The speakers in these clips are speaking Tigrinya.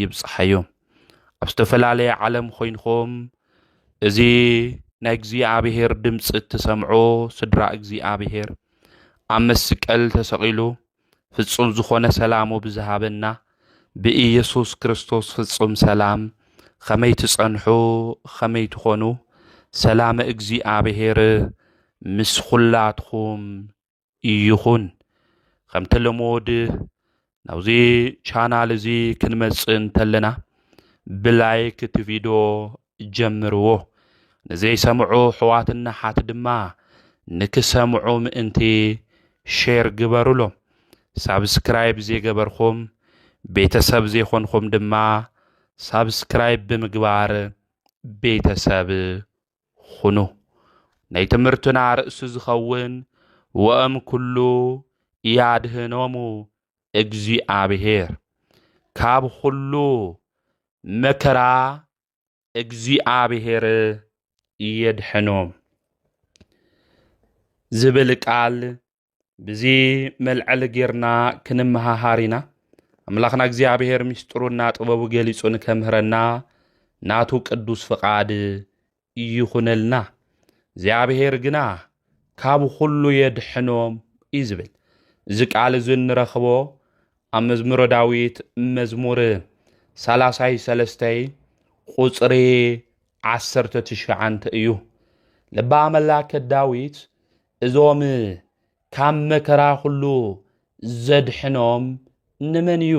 ይብጽሓዮ ኣብ ዝተፈላለየ ዓለም ኮይንኹም እዚ ናይ እግዚኣብሔር ድምፂ እትሰምዑ ስድራ እግዚኣብሔር ኣብ መስቀል ተሰቒሉ ፍጹም ዝኾነ ሰላሙ ብዝሃበና ብኢየሱስ ክርስቶስ ፍጹም ሰላም ኸመይ ትጸንሑ ኸመይ ትኾኑ ሰላመ እግዚኣብሔር ምስ ኹላትኹም ይኹን ከም ተለሞድ ናብዚ ቻናል እዚ ክንመጽእ እንተለና ብላይክ እቲ ቪድዮ ጀምርዎ ንዘይሰምዑ ሕዋትና ሓት ድማ ንክሰምዑ ምእንቲ ሼር ግበሩሎም ሳብስክራይብ ዘይገበርኹም ቤተሰብ ዘይኮንኹም ድማ ሳብስክራይብ ብምግባር ቤተሰብ ኹኑ። ናይ ትምህርትና ርእሲ ዝኸውን ወእም ኩሉ ያድህኖሙ እግዚኣብሔር ካብ ኹሉ መከራ እግዚኣብሔር የድሕኖም ዝብል ቃል ብዚ መልዐሊ ጌርና ክንመሃሃር ኢና ኣምላኽና እግዚኣብሔር ምስጢሩና ጥበቡ ገሊጹ ንከምህረና ናቱ ቅዱስ ፍቓድ ይኹነልና እግዚኣብሔር ግና ካብ ዅሉ የድሕኖም እዩ ዝብል እዚ ቃል እዚ እንረኽቦ ኣብ መዝሙረ ዳዊት መዝሙር ሰላሳይ ሰለስተይ ቁፅሪ ዓሰርተ ትሽዓንተ እዩ ልባ መላከ ዳዊት እዞም ካብ መከራ ዅሉ ዘድሕኖም ንመን እዩ?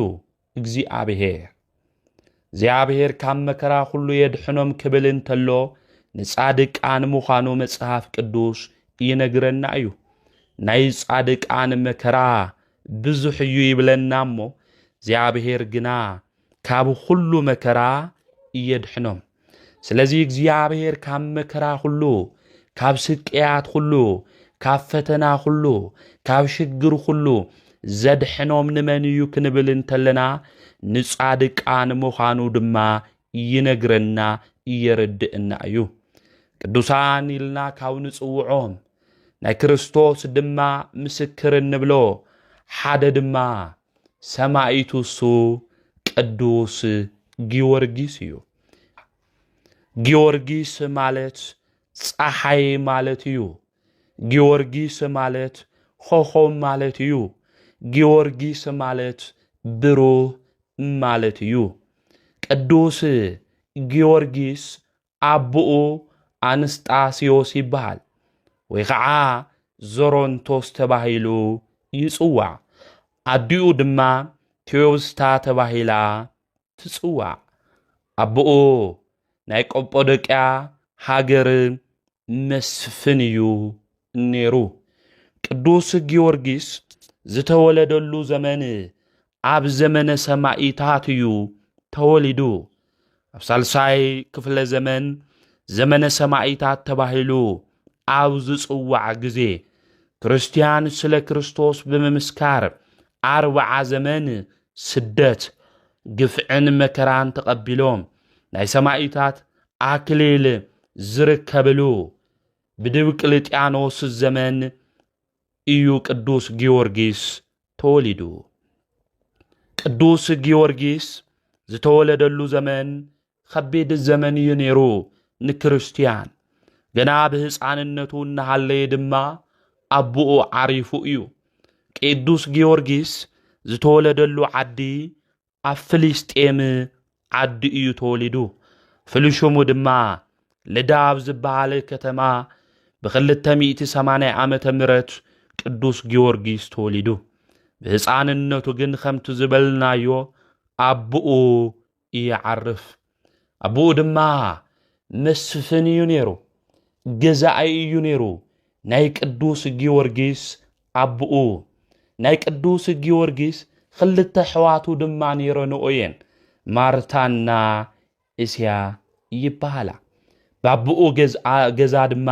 እግዚኣብሄር። እግዚኣብሄር ካብ መከራ ዅሉ የድሕኖም ክብል እንተሎ ንጻድቃን ምዃኑ መጽሓፍ ቅዱስ ይነግረና እዩ። ናይ ጻድቃን መከራ ብዙሕ እዩ ይብለና እሞ እግዚኣብሄር ግና ካብ ዅሉ መከራ እየድሕኖም። ስለዚ እግዚኣብሔር ካብ መከራ ዅሉ፣ ካብ ስቅያት ዅሉ፣ ካብ ፈተና ዅሉ፣ ካብ ሽግር ዅሉ ዘድሕኖም ንመን እዩ ክንብል እንተለና ንጻድቃን ምዃኑ ድማ ይነግረና እየረድእና እዩ። ቅዱሳን ኢልና ካብ ንጽውዖም ናይ ክርስቶስ ድማ ምስክር እንብሎ ሓደ ድማ ሰማይቱ እሱ ቅዱስ ጊዮርጊስ እዩ። ጊዮርጊስ ማለት ፀሓይ ማለት እዩ። ጊዮርጊስ ማለት ኾኾብ ማለት እዩ። ጊዮርጊስ ማለት ብሩህ ማለት እዩ። ቅዱስ ጊዮርጊስ ኣቦኡ ኣንስጣስዮስ ይበሃል ወይ ኸዓ ዞሮንቶስ ተባሂሉ ይጽዋዕ። ኣዲኡ ድማ ቴዎብስታ ተባሂላ ትጽዋዕ። ኣቦኡ ናይ ቆጶዶቅያ ሃገር መስፍን እዩ ነይሩ። ቅዱስ ጊዮርጊስ ዝተወለደሉ ዘመን ኣብ ዘመነ ሰማኢታት እዩ ተወሊዱ። ኣብ ሳልሳይ ክፍለ ዘመን ዘመነ ሰማኢታት ተባሂሉ ኣብ ዝጽዋዕ ግዜ ክርስትያን ስለ ክርስቶስ ብምምስካር ኣርብዓ ዘመን ስደት፣ ግፍዕን መከራን ተቐቢሎም ናይ ሰማኢታት ኣክሊል ዝርከብሉ ብድብቅልጥያኖስ ዘመን ኢዩ ቅዱስ ጊዮርጊስ ተወሊዱ። ቅዱስ ጊዮርጊስ ዝተወለደሉ ዘመን ኸቢድ ዘመን እዩ ነይሩ ንክርስትያን። ገና ብህፃንነቱ እናሃለየ ድማ ኣቦኡ ዓሪፉ እዩ። ቅዱስ ጊዮርጊስ ዝተወለደሉ ዓዲ ኣብ ፍልስጤም ዓዱ እዩ ተወሊዱ። ፍሉይ ሽሙ ድማ ልዳ ኣብ ዝበሃል ከተማ ብክልተ ሚእቲ ሰማንያ ዓመተ ምረት ቅዱስ ጊዮርጊስ ተወሊዱ። ብህፃንነቱ ግን ከምቲ ዝበልናዮ ኣቡኡ ይዓርፍ። ኣቦኡ ድማ መስፍን እዩ ነይሩ፣ ገዛኣይ እዩ ነይሩ፣ ናይ ቅዱስ ጊዮርጊስ ኣቦኡ ናይ ቅዱስ ጊዮርጊስ ክልተ ኣሕዋቱ ድማ ነይረንኦ እየን ማርታና እስያ ይበሃላ ባብኡ ገዛ ድማ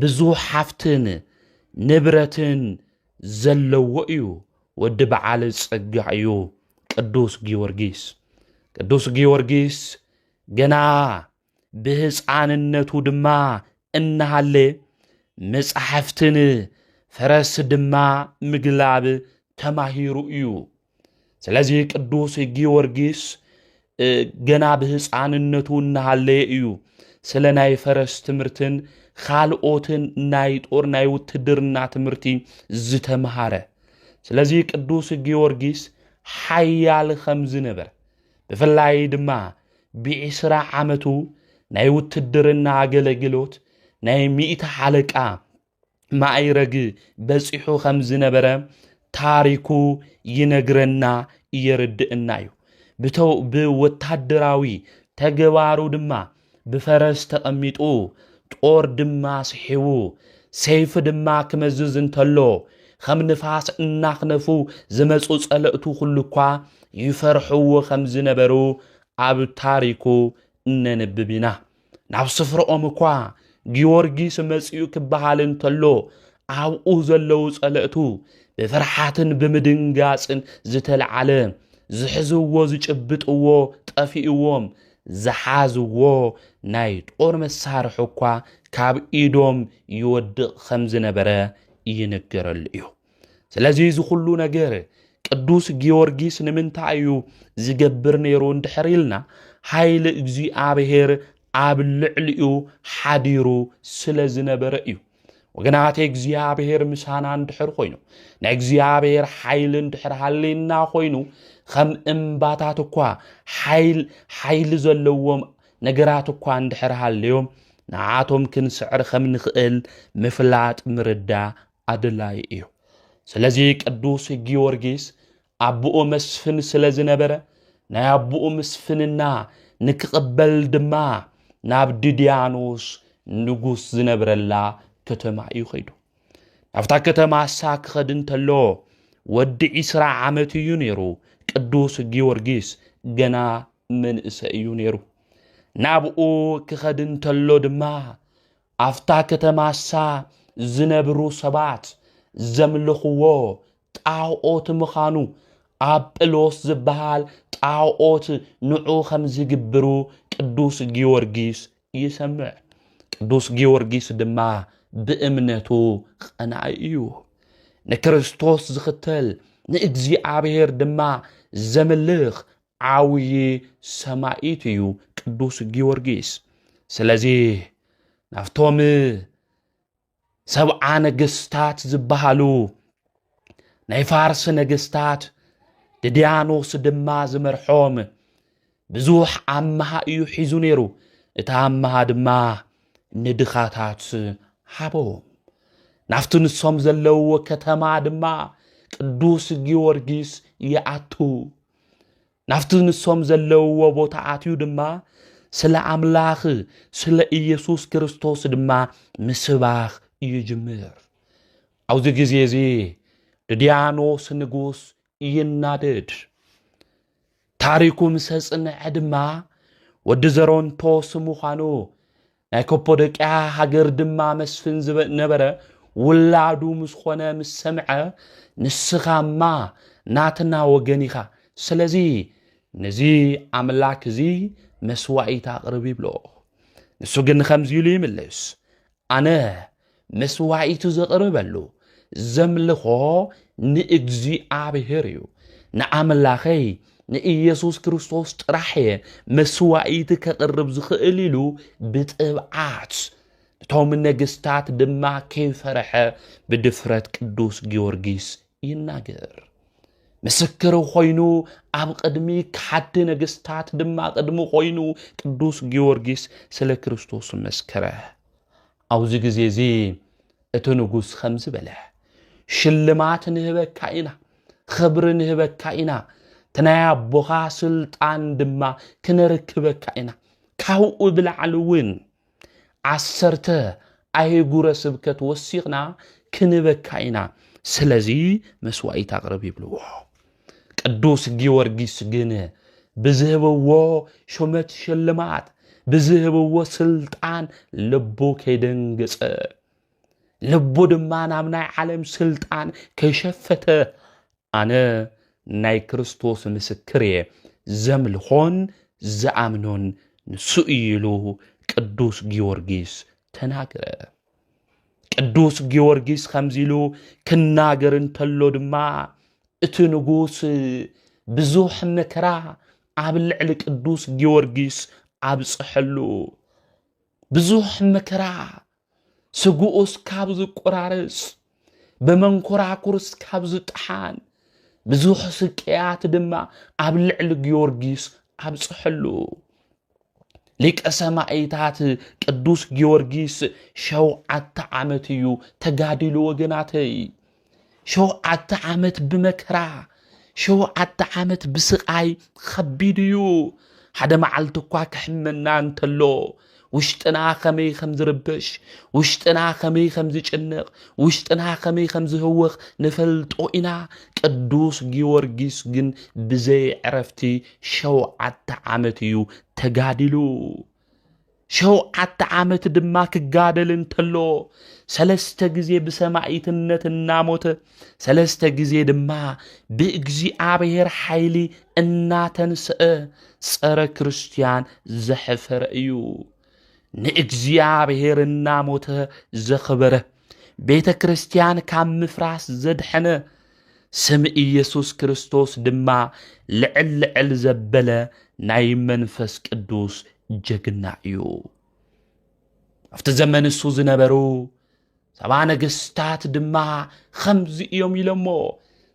ብዙሕ ሓፍትን ንብረትን ዘለዎ እዩ ወዲ በዓል ጸጋ እዩ ቅዱስ ጊዮርጊስ ቅዱስ ጊዮርጊስ ገና ብህፃንነቱ ድማ እናሃለ መጻሕፍትን ፈረስ ድማ ምግላብ ተማሂሩ እዩ ስለዚህ ቅዱስ ጊዮርጊስ ገና ብህፃንነቱ እናሃለየ እዩ ስለ ናይ ፈረስ ትምህርትን ካልኦትን ናይ ጦር ናይ ውትድርና ትምህርቲ ዝተምሃረ ስለዚ ቅዱስ ጊዮርጊስ ሓያል ከም ዝነበር ብፍላይ ድማ ብዒስራ ዓመቱ ናይ ውትድርና ኣገለግሎት ናይ ሚእቲ ሓለቃ ማእይረግ በጺሑ ከም ዝነበረ ታሪኩ ይነግረና የርድእና እዩ። ብወታደራዊ ተግባሩ ድማ ብፈረስ ተቐሚጡ ጦር ድማ ስሒቡ ሰይፊ ድማ ክመዝዝ እንተሎ ከም ንፋስ እናኽነፉ ዝመፁ ጸለእቱ ኩሉ እኳ ይፈርሕዎ ከም ዝነበሩ ኣብ ታሪኩ እነንብብ ኢና። ናብ ስፍረኦም እኳ ጊዮርጊስ መጺኡ ክበሃል እንተሎ ኣብኡ ዘለዉ ጸለእቱ ብፍርሓትን ብምድንጋጽን ዝተለዓለ ዝሕዝዎ ዝጭብጥዎ ጠፊእዎም ዝሓዝዎ ናይ ጦር መሳርሒ እኳ ካብ ኢዶም ይወድቕ ከም ዝነበረ ይንገረሉ እዩ። ስለዚ እዚ ኩሉ ነገር ቅዱስ ጊዮርጊስ ንምንታይ እዩ ዝገብር ነይሩ እንድሕር ኢልና ሓይሊ እግዚኣብሔር ኣብ ልዕሊኡ ሓዲሩ ስለ ዝነበረ እዩ ወገናት እግዚኣብሔር ምሳና እንድሕር ኮይኑ ናይ እግዚኣብሔር ሓይሊ እንድሕር ሃልየና ኮይኑ ከም እምባታት እኳ ሓይሊ ዘለዎም ነገራት እኳ እንድሕር ሃልዮም ንዓቶም ክንስዕር ከም ንኽእል ምፍላጥ ምርዳ ኣድላዪ እዩ። ስለዚ ቅዱስ ጊዮርጊስ ኣቦኡ መስፍን ስለ ዝነበረ ናይ ኣቦኡ ምስፍንና ንክቕበል ድማ ናብ ድድያኖስ ንጉስ ዝነብረላ ከተማ እዩ ኸይዱ። ናብታ ከተማ እሳ ክኸድ እንተሎ ወዲ ዒስራ ዓመት እዩ ነይሩ። ቅዱስ ጊዮርጊስ ገና መንእሰ እዩ ነይሩ። ናብኡ ክኸድ እንተሎ ድማ ኣብታ ከተማሳ ዝነብሩ ሰባት ዘምልኽዎ ጣኦት ምኻኑ፣ ኣጵሎስ ዝበሃል ጣኦት ንዑ ከም ዝግብሩ ቅዱስ ጊዮርጊስ ይሰምዕ። ቅዱስ ጊዮርጊስ ድማ ብእምነቱ ቐናኢ እዩ። ንክርስቶስ ዝኽተል ንእግዚኣብሔር ድማ ዘምልኽ ዓብዪ ሰማኢት እዩ ቅዱስ ጊዮርጊስ። ስለዚ ናብቶም ሰብዓ ነገስታት ዝበሃሉ ናይ ፋርስ ነገስታት ድድያኖስ ድማ ዝመርሖም ብዙሕ ኣመሃ እዩ ሒዙ ነይሩ እቲ ኣመሃ ድማ ንድኻታት ሃቦም ናብቲ ንሶም ዘለውዎ ከተማ ድማ ቅዱስ ጊዮርጊስ ይኣቱ ናብቲ ንሶም ዘለውዎ ቦታ ኣትዩ ድማ ስለ ኣምላኽ ስለ ኢየሱስ ክርስቶስ ድማ ምስባኽ ይጅምር። ኣብዚ ግዜ እዚ ድድያኖስ ንጉስ ይናደድ። ታሪኩ ምስ ኣጽንዐ ድማ ወዲ ዘሮንቶስ ምዃኑ ናይ ከፖዶቅያ ሃገር ድማ መስፍን ነበረ። ውላዱ ምስ ኾነ ምስ ሰምዐ ንስኻማ ናትና ወገን ኢኻ፣ ስለዚ ነዚ ኣምላክ እዚ መስዋኢት ኣቕርብ ይብሎ። ንሱ ግን ከምዚ ኢሉ ይምልስ፣ ኣነ መስዋኢቱ ዘቕርበሉ፣ ዘምልኾ ንእግዚኣብሔር እዩ። ንኣምላኸይ ንኢየሱስ ክርስቶስ ጥራሕ እየ መስዋኢቲ ከቕርብ ዝኽእል ኢሉ ብጥብዓት እቶም ነገስታት ድማ ከይፈረሐ ብድፍረት ቅዱስ ጊዮርጊስ ይናገር። ምስክር ኮይኑ ኣብ ቅድሚ ከሓድቲ ነገስታት ድማ ቅድሚ ኮይኑ ቅዱስ ጊዮርጊስ ስለ ክርስቶስ መስከረ። ኣብዚ ግዜ እዚ እቲ ንጉስ ከምዚ በለ ሽልማት ንህበካ ኢና ኽብሪ ንህበካ ኢና እቲ ናይ ኣቦኻ ስልጣን ድማ ክነርክበካ ኢና ካብኡ ብላዕሊ እውን ዓሰርተ ኣይጉረ ስብከት ወሲኽና ክንበካ ኢና ስለዚ መስዋኢት ኣቕርብ ይብልዎ ቅዱስ ጊዮርጊስ ግን ብዝህብዎ ሹመት ሽልማት ብዝህብዎ ስልጣን ልቡ ከይደንገጸ ልቡ ድማ ናብ ናይ ዓለም ስልጣን ከይሸፈተ ኣነ ናይ ክርስቶስ ምስክር እየ ዘምልኾን ዝኣምኖን ንሱ እዩ ኢሉ ቅዱስ ጊዮርጊስ ተናገረ። ቅዱስ ጊዮርጊስ ከምዚ ኢሉ ክናገር እንተሎ ድማ እቲ ንጉስ ብዙሕ መከራ ኣብ ልዕሊ ቅዱስ ጊዮርጊስ ኣብፅሐሉ ብዙሕ መከራ ስግኡስ ካብ ዝቆራረፅ ብመንኮራኩር እስካብ ዝጠሓን ብዙሕ ስቅያት ድማ ኣብ ልዕሊ ጊዮርጊስ ኣብፅሐሉ ሊቀ ሰማይታት ቅዱስ ጊዮርጊስ ሸውዓተ ዓመት እዩ ተጋዲሉ ወገናተይ ሸውዓተ ዓመት ብመከራ ሸውዓተ ዓመት ብስቓይ ኸቢድ እዩ። ሓደ መዓልቲ እኳ ክሕመና እንተሎ ውሽጥና ከመይ ከም ዝርበሽ፣ ውሽጥና ከመይ ከም ዝጭነቕ፣ ውሽጥና ከመይ ከም ዝህወኽ ንፈልጦ ኢና። ቅዱስ ጊዮርጊስ ግን ብዘይ ዕረፍቲ ሸውዓተ ዓመት እዩ ተጋዲሉ። ሸውዓተ ዓመት ድማ ክጋደል እንተሎ ሰለስተ ግዜ ብሰማይትነት እናሞተ ሰለስተ ግዜ ድማ ብእግዚኣብሔር ሓይሊ እናተንስአ ጸረ ክርስቲያን ዘሕፈረ እዩ። ንእግዚኣብሔር እናሞተ ዘኽበረ ቤተ ክርስቲያን ካብ ምፍራስ ዘድሐነ ስም ኢየሱስ ክርስቶስ ድማ ልዕል ልዕል ዘበለ ናይ መንፈስ ቅዱስ ጀግና እዩ። ኣብቲ ዘመን እሱ ዝነበሩ ሰባ ነገስታት ድማ ኸምዚ እዮም ኢሎሞ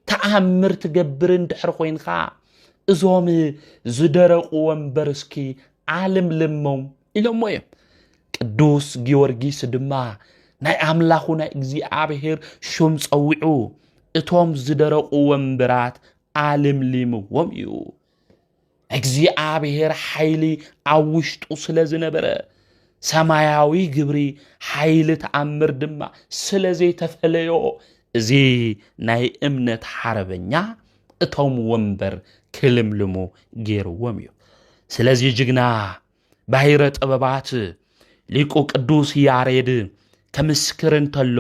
ተኣምር ትገብር እንድሕር ኮይንካ እዞም ዝደረቑ ወንበር እስኪ ኣልምልሞም ኢሎሞ እዮም። ቅዱስ ጊዮርጊስ ድማ ናይ ኣምላኹ ናይ እግዚኣብሔር ሹም ጸዊዑ እቶም ዝደረቑ ወንበራት ኣልምሊምዎም እዩ። እግዚኣብሔር ሓይሊ ኣብ ውሽጡ ስለ ዝነበረ ሰማያዊ ግብሪ ሓይሊ ተኣምር ድማ ስለ ዘይተፈለዮ እዚ ናይ እምነት ሓረበኛ እቶም ወንበር ክልምልሙ ገይርዎም እዩ። ስለዚ ጅግና ባሕረ ጥበባት ሊቁ ቅዱስ ያሬድ ከምስክር እንተሎ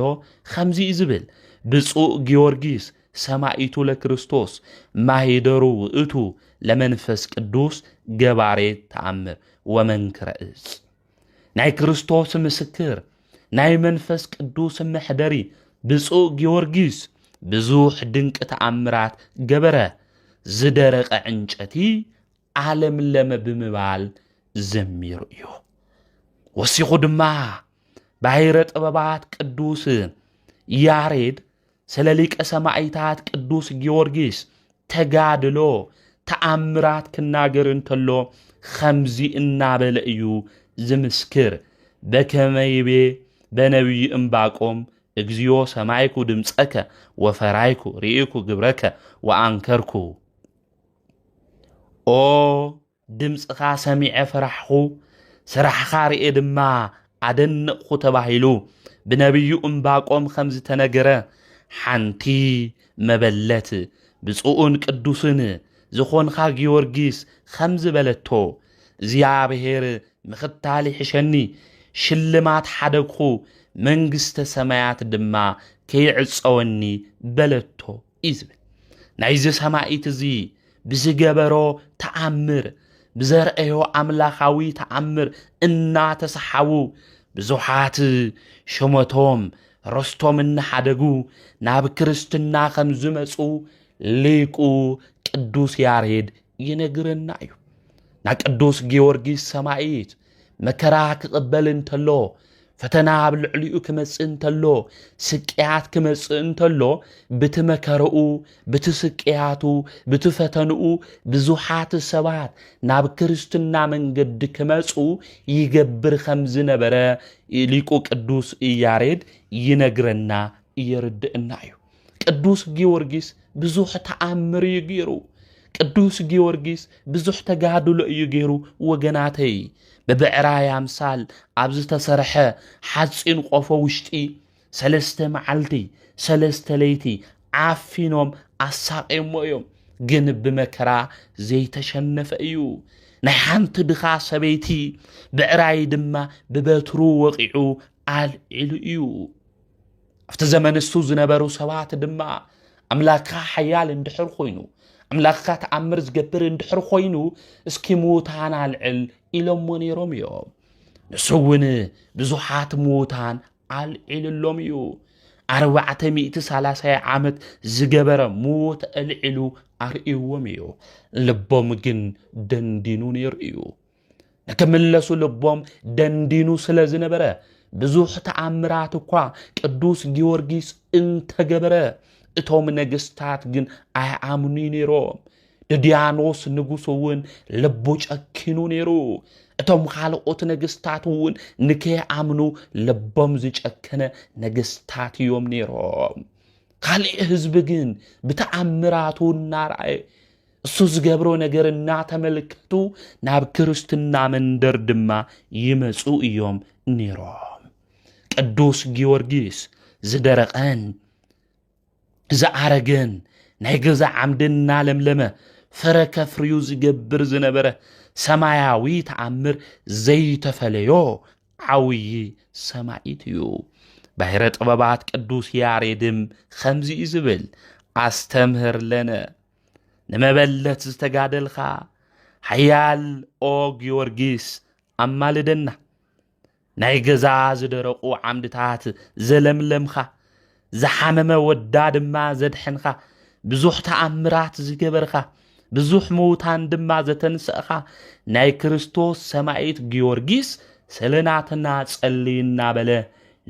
ኸምዚ እዩ ዝብል ብፁእ ጊዮርጊስ ሰማይቱ ለክርስቶስ ማሂደሩ ውእቱ ለመንፈስ ቅዱስ ገባሬ ተኣምር ወመንክረ እጽ ናይ ክርስቶስ ምስክር ናይ መንፈስ ቅዱስ መሕደሪ ብፁእ ጊዮርጊስ ብዙሕ ድንቂ ተኣምራት ገበረ ዝደረቐ ዕንጨቲ ኣለምለመ ብምባል ዘሚሩ እዩ። ወሲኹ ድማ ባይረ ጥበባት ቅዱስ ያሬድ ስለ ሊቀ ሰማይታት ቅዱስ ጊዮርጊስ ተጋድሎ ተኣምራት ክናገር እንተሎ ኸምዚ እናበለ እዩ ዝምስክር በከመይቤ በነቢዩ እምባቆም እግዚኦ ሰማይኩ ድምፀከ ወፈራይኩ ርኢኩ ግብረከ ወኣንከርኩ ኦ ድምፅኻ ሰሚዐ ፈራሕኹ፣ ስራሕኻ ርኤ ድማ ኣደነቕኹ ተባሂሉ ብነብዩ እምባቆም ከም ዝተነገረ፣ ሓንቲ መበለት ብፁዕን ቅዱስን ዝኾንኻ ጊዮርጊስ ከምዚ በለቶ፣ እግዚኣብሔር ምኽታል ይሕሸኒ፣ ሽልማት ሓደግኹ፣ መንግስተ ሰማያት ድማ ከይዕፀወኒ በለቶ። እዩ ዝብል ናይዚ ሰማይት እዚ ብዝገበሮ ተኣምር ብዘርእዮ ኣምላኻዊ ተኣምር እናተሰሓቡ ብዙሓት ሸመቶም ረስቶም እናሓደጉ ናብ ክርስትና ከም ዝመፁ ሊቁ ቅዱስ ያሬድ ይነግረና እዩ ና ቅዱስ ጊዮርጊስ ሰማይት መከራ ክቕበል እንተሎ ፈተና ኣብ ልዕሊኡ ክመጽእ እንተሎ ስቅያት ክመጽእ እንተሎ ብቲ መከረኡ ብቲ ስቅያቱ ብቲ ፈተንኡ ብዙሓት ሰባት ናብ ክርስትና መንገዲ ክመጹ ይገብር ከም ዝነበረ ሊቁ ቅዱስ ያሬድ ይነግረና የርድእና እዩ። ቅዱስ ጊዮርጊስ ብዙሕ ተኣምር እዩ ገይሩ። ቅዱስ ጊዮርጊስ ብዙሕ ተጋድሎ እዩ ገይሩ። ወገናተይ ብብዕራይ ኣምሳል ኣብ ዝተሰርሐ ሓፂን ቆፎ ውሽጢ ሰለስተ መዓልቲ ሰለስተ ለይቲ ዓፊኖም ኣሳቂሞ እዮም። ግን ብመከራ ዘይተሸነፈ እዩ። ናይ ሓንቲ ድኻ ሰበይቲ ብዕራይ ድማ ብበትሩ ወቂዑ ኣልዒሉ እዩ። ኣብቲ ዘመን እሱ ዝነበሩ ሰባት ድማ ኣምላክካ ሓያል እንድሕር ኮይኑ ኣምላኽካ ተኣምር ዝገብር እንድሕር ኮይኑ እስኪ ምዉታን ኣልዕል ኢሎሞ ነይሮም እዮም ንሱ እውን ብዙሓት ምዉታን ኣልዒልሎም እዩ ኣርባዕተ ሚእቲ ሳላሳይ ዓመት ዝገበረ ምዉት ኣልዒሉ ኣርእዎም እዩ ልቦም ግን ደንዲኑ ነይሩ እዩ ንክምለሱ ልቦም ደንዲኑ ስለ ዝነበረ ብዙሕ ተኣምራት እኳ ቅዱስ ጊዮርጊስ እንተገበረ እቶም ነገስታት ግን ኣይኣምኑ ነይሮም። ድድያኖስ ንጉስ እውን ልቡ ጨኪኑ ነይሩ። እቶም ካልኦት ነገስታት እውን ንከይኣምኑ ልቦም ዝጨከነ ነገስታት እዮም ነይሮም። ካልእ ህዝቢ ግን ብተኣምራቱ እናርኣየ እሱ ዝገብሮ ነገር እናተመልከቱ ናብ ክርስትና መንደር ድማ ይመፁ እዮም ነይሮም። ቅዱስ ጊዮርጊስ ዝደረቐን ዝኣረገን ናይ ገዛ ዓምዲ እናለምለመ ፍረ ከፍርዩ ዝገብር ዝነበረ ሰማያዊ ተኣምር ዘይተፈለዮ ዓብዪ ሰማኢት እዩ። ባሕረ ጥበባት ቅዱስ ያሬድም ከምዚ እዩ ዝብል ኣስተምህር ለነ ንመበለት ዝተጋደልኻ ሓያል ኦ ጊዮርጊስ ኣማልደና ናይ ገዛ ዝደረቑ ዓምድታት ዘለምለምኻ ዝሓመመ ወዳ ድማ ዘድሐንኻ ብዙሕ ተኣምራት ዝገበርኻ ብዙሕ ምውታን ድማ ዘተንሰእኻ ናይ ክርስቶስ ሰማይት ጊዮርጊስ ሰለናትና ጸሊ እናበለ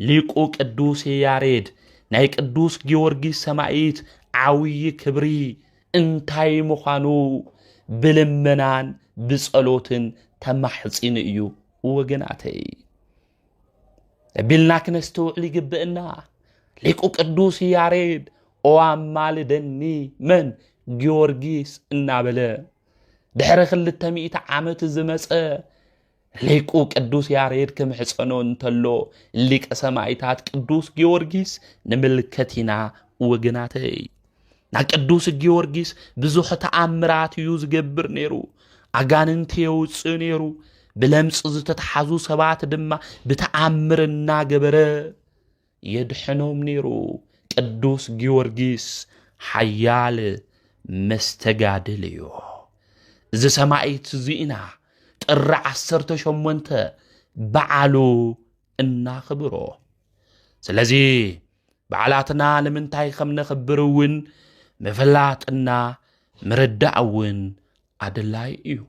ሊቁ ቅዱስ ያሬድ ናይ ቅዱስ ጊዮርጊስ ሰማይት ዓብዪ ክብሪ እንታይ ምዃኑ ብልመናን ብጸሎትን ተማሕጺኑ እዩ ወገናተይ ቢልና ክነስተውዕል ይግብእና ሊቁ ቅዱስ ያሬድ ኦኣማልደኒ መን ጊዮርጊስ እናበለ ድሕሪ ክልተ ሚእቲ ዓመት ዝመፀ ሊቁ ቅዱስ ያሬድ ክምሕፀኖ እንተሎ ሊቀ ሰማይታት ቅዱስ ጊዮርጊስ ንምልከት ኢና ወገናተይ ና ቅዱስ ጊዮርጊስ ብዙሕ ተኣምራት እዩ ዝገብር ነይሩ ኣጋንንቲ የውፅእ ነይሩ ብለምፂ ዝተተሓዙ ሰባት ድማ ብተኣምር እናገበረ የድሕኖም ነይሩ ቅዱስ ጊዮርጊስ ሓያል መስተጋድል እዩ። እዚ ሰማይት እዚኢና ጥሪ ዓሰርተ ሸሞንተ በዓሉ እናኽብሮ ስለዚ በዓላትና ንምንታይ ከም ነኽብር እውን ምፍላጥና ምርዳእ እውን ኣድላይ እዩ።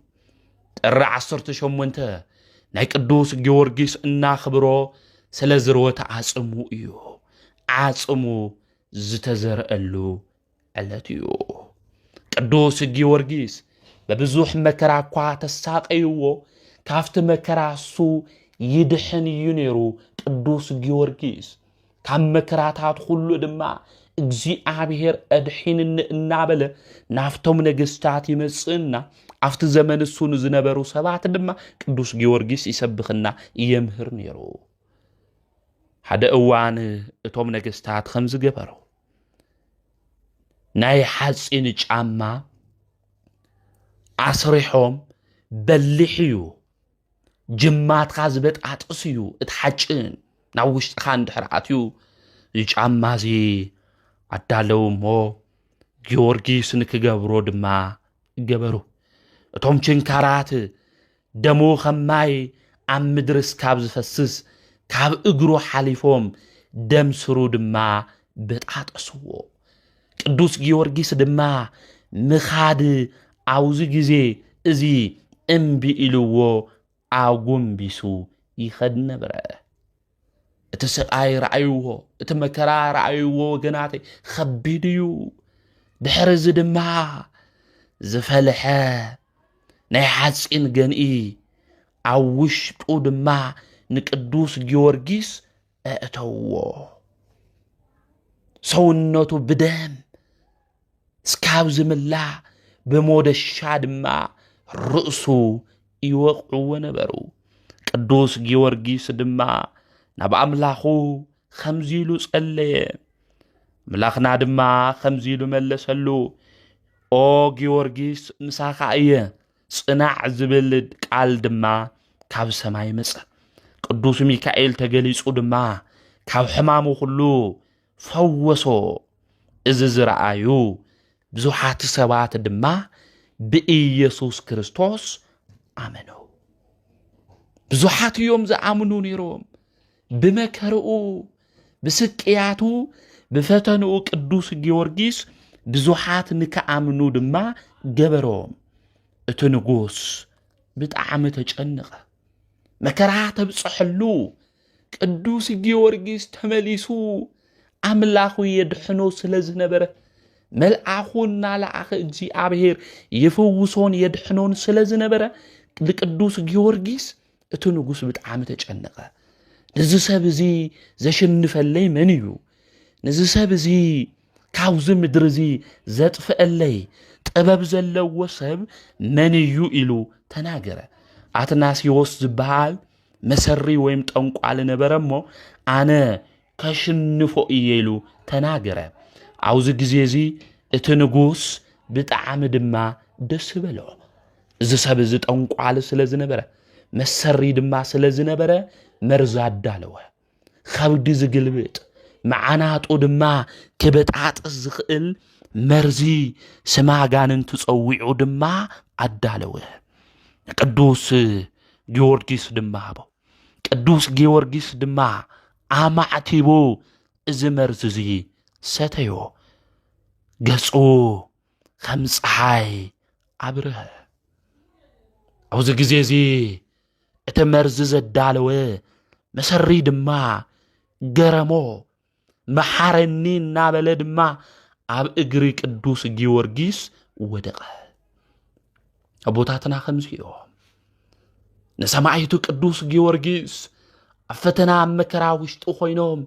ጥሪ ዓሰርተ ሸሞንተ ናይ ቅዱስ ጊዮርጊስ እናኽብሮ ስለ ዝርወት ዓጽሙ እዩ። ዓጽሙ ዝተዘርአሉ ዕለት እዩ። ቅዱስ ጊዮርጊስ በብዙሕ መከራ እኳ ተሳቀይዎ ካብቲ መከራ እሱ ይድሕን እዩ ነይሩ ቅዱስ ጊዮርጊስ ካብ መከራታት ኹሉ ድማ እግዚኣብሔር ኣድሒንኒ እናበለ ናፍቶም ነገስታት ይመጽእና ኣብቲ ዘመን እሱ ንዝነበሩ ሰባት ድማ ቅዱስ ጊዮርጊስ ይሰብኽና የምህር ነይሩ ሓደ እዋን እቶም ነገስታት ከም ዝገበሩ ናይ ሓፂን ጫማ ኣስሪሖም በሊሕ እዩ ጅማትካ ዝበጣጥስ እዩ እቲ ሓጭ ናብ ውሽጥካ እንድሕር ኣትዩ እዚ ጫማ እዚ ኣዳለው እሞ ጊዮርጊስ ንክገብሮ ድማ ገበሩ እቶም ችንካራት ደሙ ከም ማይ ኣብ ምድሪ እስካብ ዝፈስስ ካብ እግሩ ሓሊፎም ደም ስሩ ድማ በጣጠስዎ ቅዱስ ጊዮርጊስ ድማ ምኻድ ኣብዚ ግዜ እዚ እምቢ ኢልዎ ኣጎንቢሱ ይኸድ ነብረ እቲ ስቃይ ረኣይዎ እቲ መከራ ረኣይዎ ወገናተይ ኸቢድ እዩ ድሕሪ እዚ ድማ ዝፈልሐ ናይ ሓፂን ገንኢ ኣብ ውሽጡ ድማ ንቅዱስ ጊዮርጊስ ኣእተውዎ። ሰውነቱ ብደም ስካብ ዝምላእ ብሞደሻ ድማ ርእሱ ይወቕዕዎ ነበሩ። ቅዱስ ጊዮርጊስ ድማ ናብ ኣምላኹ ከምዚ ኢሉ ጸለየ። ኣምላኽና ድማ ከምዚ ኢሉ መለሰሉ፣ ኦ ጊዮርጊስ ምሳኻ እየ ጽናዕ ዝብል ቃል ድማ ካብ ሰማይ መጸ። ቅዱስ ሚካኤል ተገሊጹ ድማ ካብ ሕማሙ ኩሉ ፈወሶ። እዚ ዝረኣዩ ብዙሓት ሰባት ድማ ብኢየሱስ ክርስቶስ ኣመኑ። ብዙሓት እዮም ዝኣምኑ ነይሮም ብመከርኡ ብስቅያቱ ብፈተንኡ ቅዱስ ጊዮርጊስ ብዙሓት ንክኣምኑ ድማ ገበሮም። እቲ ንጉስ ብጣዕሚ ተጨንቐ። መከራ ተብፅሐሉ ቅዱስ ጊዮርጊስ ተመሊሱ ኣምላኹ የድሕኖ ስለ ዝነበረ መልኣኹ እናለኣኸ እግዚኣብሔር የፈውሶን የድሕኖን ስለ ዝነበረ ንቅዱስ ጊዮርጊስ እቲ ንጉስ ብጣዕሚ ተጨነቐ። ነዚ ሰብ እዚ ዘሽንፈለይ መን እዩ? ነዚ ሰብ እዚ ካብዚ ምድሪ እዚ ዘጥፍአለይ ጥበብ ዘለዎ ሰብ መን እዩ ኢሉ ተናገረ። ኣትናሲዎስ ዝበሃል መሰሪ ወይም ጠንቋሊ ነበረ እሞ ኣነ ከሽንፎ እየ ኢሉ ተናገረ። ኣብዚ ግዜ እዚ እቲ ንጉስ ብጣዕሚ ድማ ደስ በሎ። እዚ ሰብ እዚ ጠንቋሊ ስለ ዝነበረ መሰሪ ድማ ስለ ዝነበረ መርዚ ኣዳለወ። ከብዲ ዝግልብጥ መዓናጡ ድማ ክበጣጥስ ዝኽእል መርዚ ስማ ጋንንቲ ጸዊዑ ድማ ኣዳለወ። ቅዱስ ጊዮርጊስ ድማ ሃቦ። ቅዱስ ጊዮርጊስ ድማ ኣማዕቲቡ እዚ መርዝ እዚ ሰተዮ ገጹ ከም ፀሓይ ኣብርሀ ኣብዚ ግዜ እዚ እቲ መርዚ ዘዳለወ መሰሪ ድማ ገረሞ መሓረኒ እናበለ ድማ ኣብ እግሪ ቅዱስ ጊዮርጊስ ወደቐ ኣቦታትና ከምዚ እዮም ንሰማዒቱ ቅዱስ ጊዮርጊስ ኣብ ፈተና ኣብ መከራ ውሽጢ ኮይኖም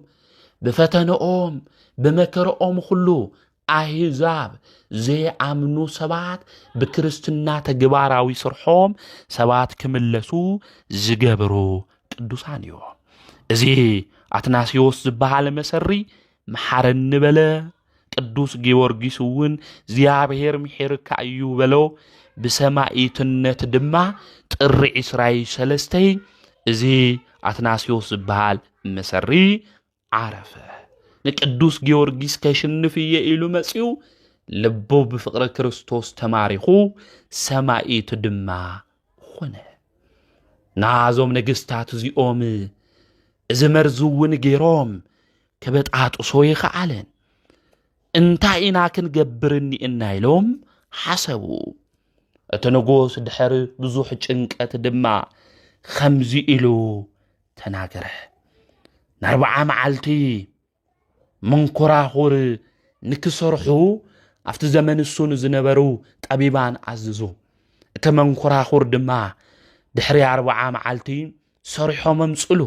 ብፈተነኦም ብመከረኦም ኩሉ ኣህዛብ ዘይኣምኑ ሰባት ብክርስትና ተግባራዊ ስርሖም ሰባት ክምለሱ ዝገብሩ ቅዱሳን እዮ እዚ ኣትናስዮስ ዝበሃለ መሰሪ መሓረኒ በለ ቅዱስ ጊዮርጊስ እውን እግዚኣብሔር ምሒርካ እዩ በሎ ብሰማይትነት ድማ ጥሪ ዕስራይ ሰለስተይ እዚ ኣትናስዮስ ዝበሃል መሰሪ ዓረፈ። ንቅዱስ ጊዮርጊስ ከሽንፍ እየ ኢሉ መጺኡ ልቡ ብፍቕሪ ክርስቶስ ተማሪኹ ሰማይት ድማ ኾነ። ናዞም ነገስታት እዚኦም እዚ መርዚ እውን ገይሮም ክበጣጥሶ ይኸኣለን እንታይ ኢና ክንገብር እኒእና ኢሎም ሓሰቡ። እቲ ንጉስ ድሕሪ ብዙሕ ጭንቀት ድማ ከምዚ ኢሉ ተናገረ ንኣርብዓ መዓልቲ መንኮራኹር ንክሰርሑ ኣብቲ ዘመን እሱ ንዝነበሩ ጠቢባን ኣዝዙ እቲ መንኮራኹር ድማ ድሕሪ ኣርብዓ መዓልቲ ሰሪሖም ኣምፅሉ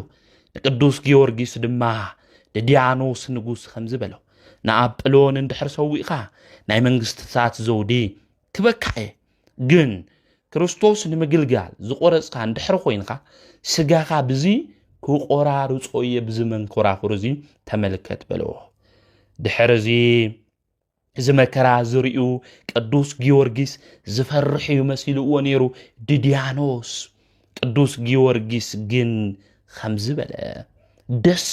ንቅዱስ ጊዮርጊስ ድማ ንድያኖስ ንጉስ ከምዚ በሎ ንኣጵሎን እንድሕር ሰዊእኻ ናይ መንግስትታት ዘውዲ ክበካ እየ ግን ክርስቶስ ንምግልጋል ዝቆረፅካ እንድሕር ኮይንካ ስጋኻ ብዚ ክቆራርፆ እየ ብዚ መንኮራኹር እዚ ተመልከት በለዎ ድሕር እዚ እዚ መከራ ዝርዩ ቅዱስ ጊዮርጊስ ዝፈርሕ እዩ መሲልዎ ነይሩ ድድያኖስ ቅዱስ ጊዮርጊስ ግን ኸምዚ በለ፣ ደስ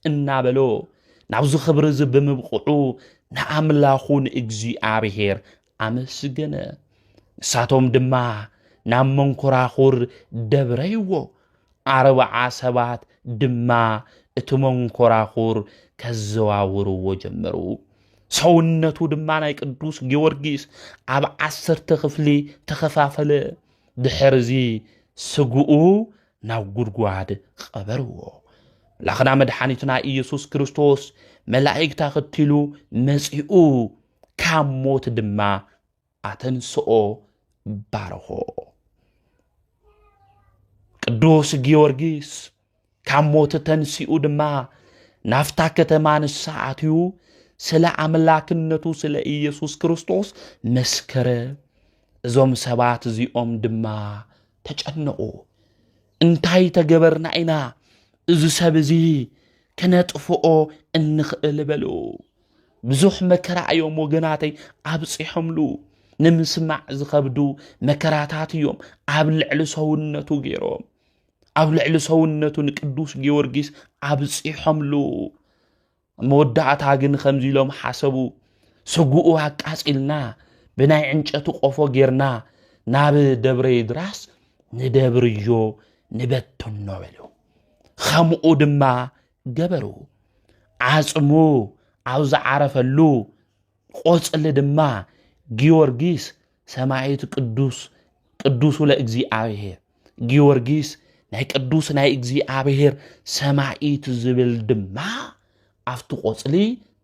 እናበሎ ናብዚ ኽብሪ እዚ ብምብቕዑ ንኣምላኹ ንእግዚኣብሔር ኣመስገነ። ንሳቶም ድማ ናብ መንኮራኹር ደብረይዎ፣ ኣርብዓ ሰባት ድማ እቲ መንኮራኹር ከዘዋውርዎ ጀመሩ። ሰውነቱ ድማ ናይ ቅዱስ ጊዮርጊስ ኣብ ዓሰርተ ክፍሊ ተኸፋፈለ። ድሕርዚ ስግኡ ናብ ጉድጓድ ቐበርዎ። ምላኽና መድሓኒትና ኢየሱስ ክርስቶስ መላእክት ኣኸቲሉ መጺኡ ካብ ሞት ድማ ኣተንስኦ ባረኾ። ቅዱስ ጊዮርጊስ ካብ ሞት ተንሲኡ ድማ ናፍታ ከተማ ንሳ ኣትዩ ስለ ኣምላክነቱ ስለ ኢየሱስ ክርስቶስ መስከረ። እዞም ሰባት እዚኦም ድማ ተጨነቑ። እንታይ ተገበርና ኢና እዚ ሰብ እዚ ክነጥፍኦ እንኽእል በሉ። ብዙሕ መከራ እዮም ወገናተይ ኣብፂሖምሉ ንምስማዕ ዝኸብዱ መከራታት እዮም ኣብ ልዕሊ ሰውነቱ ገይሮም ኣብ ልዕሊ ሰውነቱ ንቅዱስ ጊዮርጊስ ኣብፂሖምሉ መወዳእታ ግን ከምዚ ኢሎም ሓሰቡ ስጉኡ ኣቃፂልና ብናይ ዕንጨቲ ቆፎ ጌርና ናብ ደብረ ይድራስ ንደብርዮ ንበትኖ በሉ ከምኡ ድማ ገበሩ ዓፅሙ ኣብ ዝዓረፈሉ ቆፅሊ ድማ ጊዮርጊስ ሰማዒት ቅዱስ ቅዱሱ ለእግዚኣብሔር ጊዮርጊስ ናይ ቅዱስ ናይ እግዚኣብሔር ሰማዒት ዝብል ድማ ኣብቲ ቆፅሊ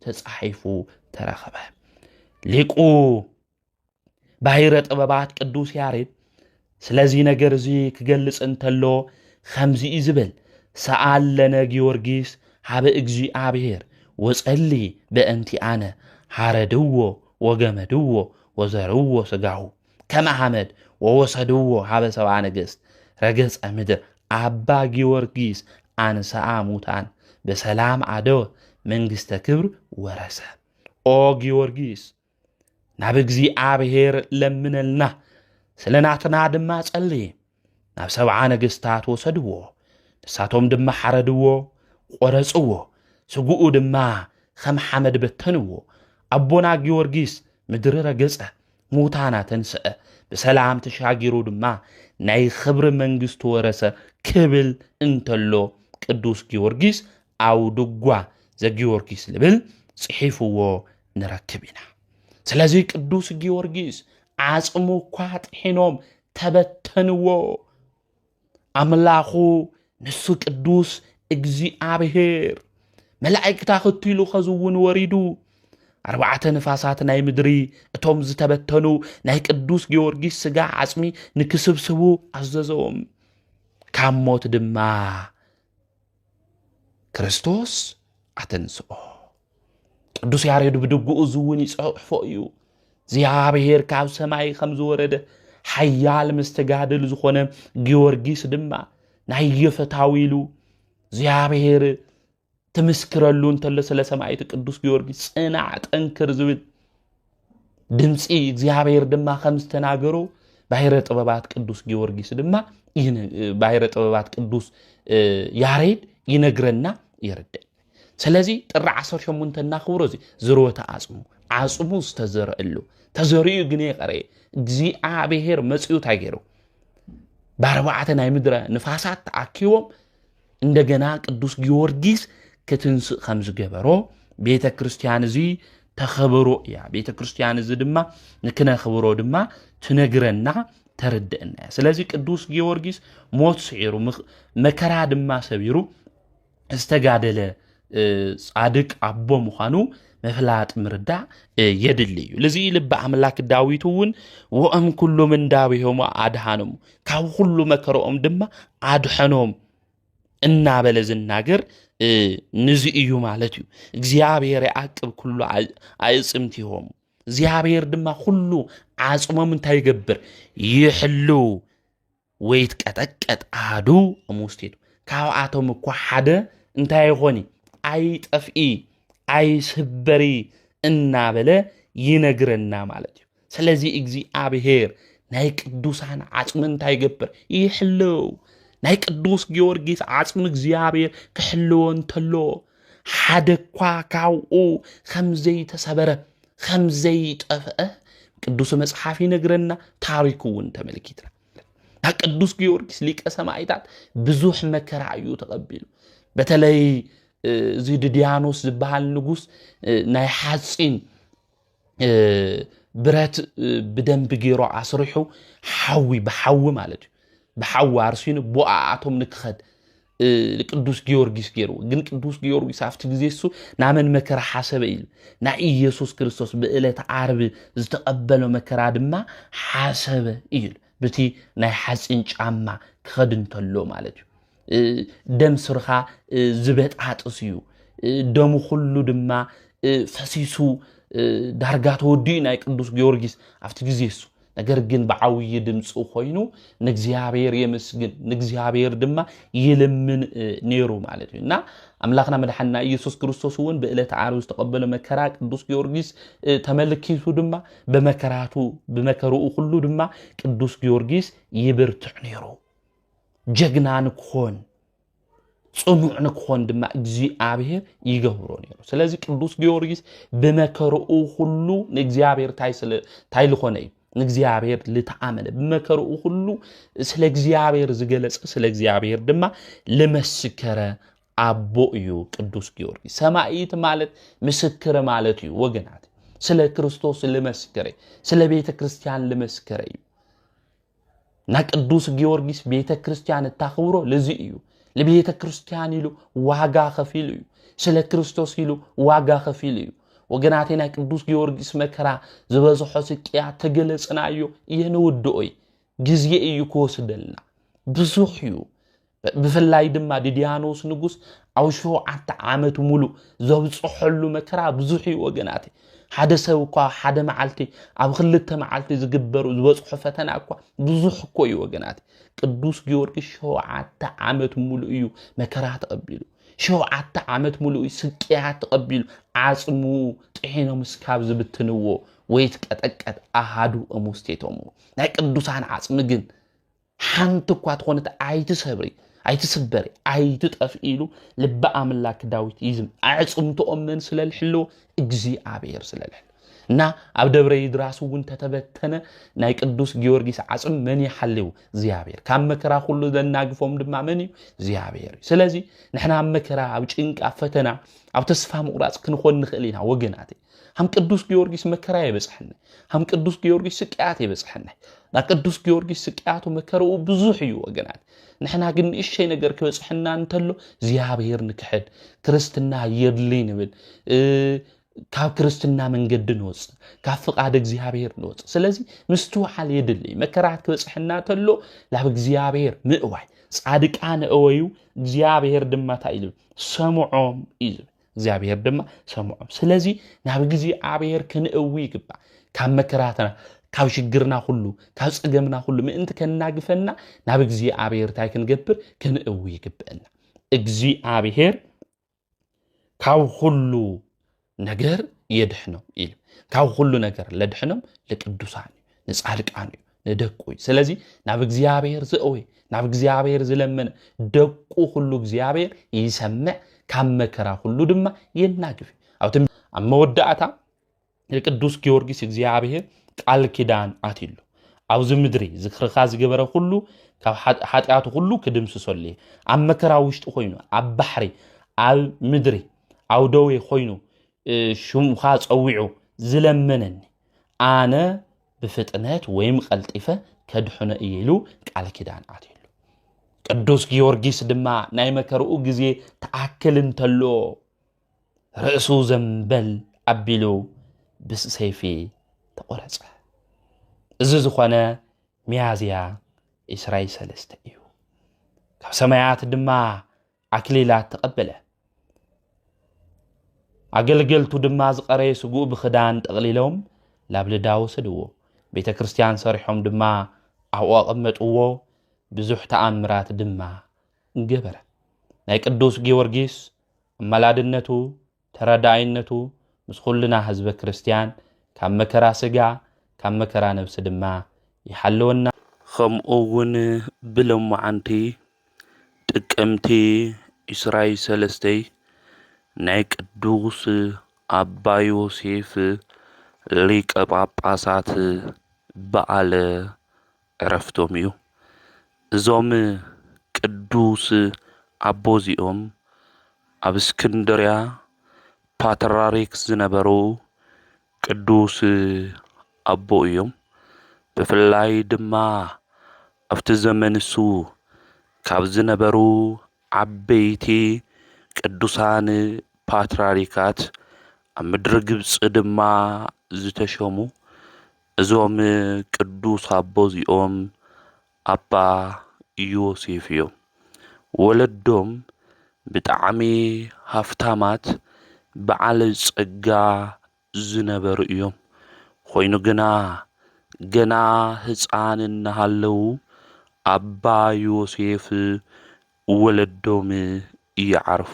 ተፃሒፉ ተረኸበ ሊቁ ባይረ ጥበባት ቅዱስ ያሬድ ስለዚ ነገር እዚ ክገልጽ እንተሎ ኸምዚ እዩ ዝብል ሰኣል ለነ ጊዮርጊስ ሃበ እግዚኣብሔር ወጸሊ በእንቲኣነ ሃረድዎ ወገመድዎ ወዘርዎ ስጋሁ ከመ ሐመድ ወወሰድዎ ሃበ ሰብኣ ነገሥት ረገጸ ምድር ኣባ ጊዮርጊስ ኣንሰኣ ሙታን በሰላም ኣደወ መንግስተ ክብር ወረሰ ኦ ጊዮርጊስ ናብ እግዚኣብሔር ለምነልና ስለ ናትና ድማ ጸልየ ናብ ሰብዓ ነገስታት ወሰድዎ ንሳቶም ድማ ሓረድዎ ቈረጽዎ ስጉኡ ድማ ኸም ሓመድ በተንዎ ኣቦና ጊዮርጊስ ምድሪ ረገጸ ሙታን ኣተንስአ ብሰላም ተሻጊሩ ድማ ናይ ኽብሪ መንግስቲ ወረሰ ክብል እንተሎ ቅዱስ ጊዮርጊስ ኣውድጓ ዘጊዮርጊስ ልብል ጽሒፍዎ ንረክብ ኢና። ስለዚ ቅዱስ ጊዮርጊስ ዓጽሙ እኳ ጥሒኖም ተበተንዎ። ኣምላኹ ንሱ ቅዱስ እግዚኣብሔር መላእክታ ክትሉ ከዝውን ወሪዱ ኣርባዕተ ንፋሳት ናይ ምድሪ እቶም ዝተበተኑ ናይ ቅዱስ ጊዮርጊስ ስጋ ዓጽሚ ንክስብስቡ ኣዘዘዎም ካብ ሞት ድማ ክርስቶስ ኣተንስኦ ቅዱስ ያሬድ ብድግኡ እዚ እውን ይጸሕፎ እዩ እግዚኣብሔር ካብ ሰማይ ከም ዝወረደ ሓያል መስተጋድል ዝኾነ ጊዮርጊስ ድማ ናይ የፈታዊ ኢሉ እግዚኣብሔር ትምስክረሉ እንተሎ ስለ ሰማይት ቅዱስ ጊዮርጊስ ጽናዕ ጠንክር ዝብል ድምፂ እግዚኣብሔር ድማ ከም ዝተናገሩ ባሕረ ጥበባት ቅዱስ ጊዮርጊስ ድማ ባሕረ ጥበባት ቅዱስ ያሬድ ይነግረና ይርድእ ስለዚ ጥሪ 18 እናኽብሮ እዚ ዝርወተ ኣፅሙ ዓፅሙ ዝተዘረእሉ ተዘሪኡ ግን የቀረየ እግዚኣብሔር መፅኡ እንታይ ገይሩ ብኣርባዕተ ናይ ምድረ ንፋሳት ተኣኪቦም እንደገና ቅዱስ ጊዮርጊስ ክትንስእ ከም ዝገበሮ ቤተ ክርስቲያን እዚ ተኸብሮ እያ ቤተ ክርስቲያን እዚ ድማ ንክነኽብሮ ድማ ትነግረና ተርድእና እያ ስለዚ ቅዱስ ጊዮርጊስ ሞት ስዒሩ መከራ ድማ ሰቢሩ ዝተጋደለ ጻድቅ ኣቦ ምዃኑ ምፍላጥ ምርዳእ የድሊ እዩ ልዚ ልቢ ኣምላክ ዳዊት እውን ወኦም ኩሉ ምንዳቤሆሙ ኣድሃኖም ካብ ኩሉ መከረኦም ድማ ኣድሐኖም እናበለ ዝናገር ንዚ እዩ ማለት እዩ እግዚኣብሔር ይኣቅብ ኩሉ ኣእፅምቲሆሙ እግዚኣብሔር ድማ ኩሉ ዓፅሞም እንታይ ይገብር ይሕልው ወይትቀጠቀጥ ኣሃዱ እምውስቴቱ ካብኣቶም እኳ ሓደ እንታይ ይኾኒ ኣይጠፍኢ ኣይስበሪ እናበለ ይነግረና ማለት እዩ ስለዚ እግዚኣብሄር ናይ ቅዱሳን ዓፅሚ እንታይ ይገብር ይሕልው ናይ ቅዱስ ጊዮርጊስ ዓፅሚ እግዚኣብሄር ክሕልዎ እንተሎ ሓደ እኳ ካብኡ ከም ዘይተሰበረ ከም ዘይጠፍአ ቅዱስ መጽሓፍ ይነግረና፣ ታሪኩ እውን ተመልኪትና ቅዱስ ጊዮርጊስ ሊቀ ሰማይታት ብዙሕ መከራ እዩ ተቐቢሉ። በተለይ እዚ ድድያኖስ ዝበሃል ንጉስ ናይ ሓፂን ብረት ብደንቢ ገይሩ ኣስሪሑ ሓዊ ብሓዊ ማለት እዩ ብሓዊ ኣርሲኑ ቦኣኣቶም ንክኸድ ቅዱስ ጊዮርጊስ ገይርዎ ግን ቅዱስ ጊዮርጊስ ኣብቲ ግዜ እሱ ናመን መከራ ሓሰበ ኢሉ ናይ ኢየሱስ ክርስቶስ ብእለት ዓርቢ ዝተቐበሎ መከራ ድማ ሓሰበ እዩ በቲ ናይ ሓፂን ጫማ ክኸድ እንተሎ ማለት እዩ ደም ስርካ ዝበጣጥስ እዩ ደሙ ኩሉ ድማ ፈሲሱ ዳርጋ ተወዲኡ ናይ ቅዱስ ጊዮርጊስ ኣብቲ ግዜ እሱ ነገር ግን ብዓብዪ ድምፂ ኮይኑ ንእግዚኣብሔር የመስግን ንእግዚኣብሔር ድማ ይልምን ነይሩ ማለት እዩ እና ኣምላኽና መድሓንና ኢየሱስ ክርስቶስ እውን ብእለት ዓርብ ዝተቐበለ መከራ ቅዱስ ጊዮርጊስ ተመልኪቱ ድማ ብመከራቱ ብመከርኡ ኩሉ ድማ ቅዱስ ጊዮርጊስ ይብርትዕ ነይሩ ጀግና ንክኾን ጽኑዕ ንክኾን ድማ እግዚኣብሔር ይገብሮ ነይሩ ስለዚ ቅዱስ ጊዮርጊስ ብመከርኡ ኩሉ ንእግዚኣብሔር እንታይ ዝኾነ እዩ ንእግዚኣብሔር ልተኣመነ ብመከርኡ ኩሉ ስለ እግዚኣብሔር ዝገለጸ ስለ እግዚኣብሔር ድማ ልመስከረ ኣቦ እዩ ቅዱስ ጊዮርጊስ ሰማይት ማለት ምስክር ማለት እዩ ወገናት ስለ ክርስቶስ ልመስከረ ስለ ቤተ ክርስቲያን ልመስከረ እዩ ናይ ቅዱስ ጊዮርጊስ ቤተ ክርስቲያን እታኽብሮ ልዚ እዩ ለቤተ ክርስቲያን ኢሉ ዋጋ ከፊሉ እዩ ስለ ክርስቶስ ኢሉ ዋጋ ከፊሉ እዩ ወገናቴ ናይ ቅዱስ ጊዮርጊስ መከራ ዝበዝሖ ስቅያ ተገለጽናዮ የንውድኦይ ግዜ እዩ ክወስደልና ብዙሕ እዩ ብፍላይ ድማ ድድያኖስ ንጉስ ኣብ ሸውዓተ ዓመት ሙሉእ ዘብፅሐሉ መከራ ብዙሕ እዩ ወገናት ሓደ ሰብ እኳ ሓደ መዓልቲ ኣብ ክልተ መዓልቲ ዝግበሩ ዝበፅሖ ፈተና እኳ ብዙሕ እኮ እዩ ወገናት ቅዱስ ጊዮርጊስ ሸውዓተ ዓመት ሙሉእ እዩ መከራ ተቐቢሉ ሸውዓተ ዓመት ሙሉእ ስቅያት ተቐቢሉ ዓፅሙ ጥሒኖም እስካብ ዝብትንዎ ወይ ትቀጠቀጥ ኣሃዱ እሙስቴቶሙ ናይ ቅዱሳን ዓፅሚ ግን ሓንቲ እኳ ትኾነት ኣይትሰብሪ ኣይትስበሪ ኣይትጠፍ ኢሉ ልቢ ኣምላክ ዳዊት ይዝም ኣዕፅምትኦም መን ስለልሕልዎ እግዚኣብሔር ስለልሕል እና ኣብ ደብረ ይድራስ እውን ተተበተነ ናይ ቅዱስ ጊዮርጊስ ዓፅም መን ይሓልው እግዚኣብሔር ካብ መከራ ኩሉ ዘናግፎም ድማ መን እዩ እግዚኣብሔር እዩ ስለዚ ንሕና ኣብ መከራ ኣብ ጭንቂ ኣብ ፈተና ኣብ ተስፋ ምቁራፅ ክንኾን ንኽእል ኢና ወገናት ሃም ቅዱስ ጊዮርጊስ መከራ የበፅሐኒ ሃም ቅዱስ ጊዮርጊስ ስቅያት የበፅሐኒ ና ቅዱስ ጊዮርጊስ ስቅያቱ መከረኡ ብዙሕ እዩ ወገናት ንሕና ግን ንእሸይ ነገር ክበፅሐና እንተሎ እግዚኣብሔር ንክሕድ ክርስትና የድሊ ንብል ካብ ክርስትና መንገዲ ንወፅእ ካብ ፍቓድ እግዚኣብሔር ንወፅእ ስለዚ ምስትውዓል የድሊ መከራት ክበፅሐና ተሎ ናብ እግዚኣብሔር ምእዋይ ፃድቃን እወዩ እግዚኣብሔር ድማ እንታይ እዩ ዝብል ሰምዖም እዩ ዝብል እግዚኣብሔር ድማ ሰምዖም ስለዚ ናብ እግዚኣብሔር ክንእዊ ይግባእ ካብ መከራትና ካብ ሽግርና ኩሉ ካብ ፀገምና ኩሉ ምእንቲ ከናግፈና ናብ እግዚኣብሔር እንታይ ክንገብር ክንእዊ ይግብእና እግዚኣብሔር ካብ ኩሉ ነገር የድሕኖም ኢሉ ካብ ኩሉ ነገር ለድሕኖም ልቅዱሳን እዩ ንፃድቃን እዩ ንደቁ እዩ ስለዚ ናብ እግዚኣብሔር ዘእወ ናብ እግዚኣብሔር ዝለመነ ደቁ ኩሉ እግዚኣብሔር ይሰምዕ ካብ መከራ ኩሉ ድማ የናግፍ ኣብቲ ኣብ መወዳእታ ንቅዱስ ጊዮርጊስ እግዚኣብሔር ቃል ኪዳን ኣትሉ ኣብዚ ምድሪ ዝክርካ ዝገበረ ኩሉ ካብ ሓጢኣቱ ኩሉ ክድምስሰሉ እዩ ኣብ መከራ ውሽጢ ኮይኑ ኣብ ባሕሪ ኣብ ምድሪ ኣብ ደዌ ኮይኑ ሽምካ ፀዊዑ ዝለመነኒ ኣነ ብፍጥነት ወይም ቐልጢፈ ከድሕኖ እየ ኢሉ ቃል ኪዳን ኣትየሉ ቅዱስ ጊዮርጊስ ድማ ናይ መከርኡ ግዜ ተኣክል እንተሎ ርእሱ ዘንበል ኣቢሉ ብሰይፊ ተቖረፀ እዚ ዝኾነ ሚያዝያ ኢስራይ ሰለስተ እዩ ካብ ሰማያት ድማ ኣክሊላት ተቐበለ። ኣገልገልቱ ድማ ዝቐረየ ስጉኡ ብኽዳን ጠቕሊሎም ላብ ልዳ ወሰድዎ። ቤተ ክርስቲያን ሰሪሖም ድማ ኣብኡ ኣቐመጥዎ። ብዙሕ ተኣምራት ድማ ገበረ። ናይ ቅዱስ ጊዮርጊስ ኣመላድነቱ ተረዳኣይነቱ ምስ ኹልና ህዝበ ክርስትያን ካብ መከራ ስጋ ካብ መከራ ነብሲ ድማ ይሓልወና። ኸምኡ ውን ብሎማዓንቲ ጥቅምቲ ዕስራይ ሰለስተይ ናይ ቅዱስ ኣባ ዮሴፍ ሊቀ ጳጳሳት በዓለ ዕረፍቶም እዩ። እዞም ቅዱስ ኣቦ እዚኦም ኣብ እስክንድርያ ፓትራሪክ ዝነበሩ ቅዱስ ኣቦ እዮም። ብፍላይ ድማ ኣብቲ ዘመን እሱ ካብ ዝነበሩ ዓበይቲ ቅዱሳን ፓትራሪካት ኣብ ምድሪ ግብፂ ድማ ዝተሸሙ እዞም ቅዱስ ኣቦ እዚኦም ኣባ ዮሴፍ እዮም። ወለዶም ብጣዕሚ ሃፍታማት በዓል ጸጋ ዝነበሩ እዮም። ኾይኑ ግና ገና ህፃን እናሃለው ኣባ ዮሴፍ ወለዶም ይዓርፉ።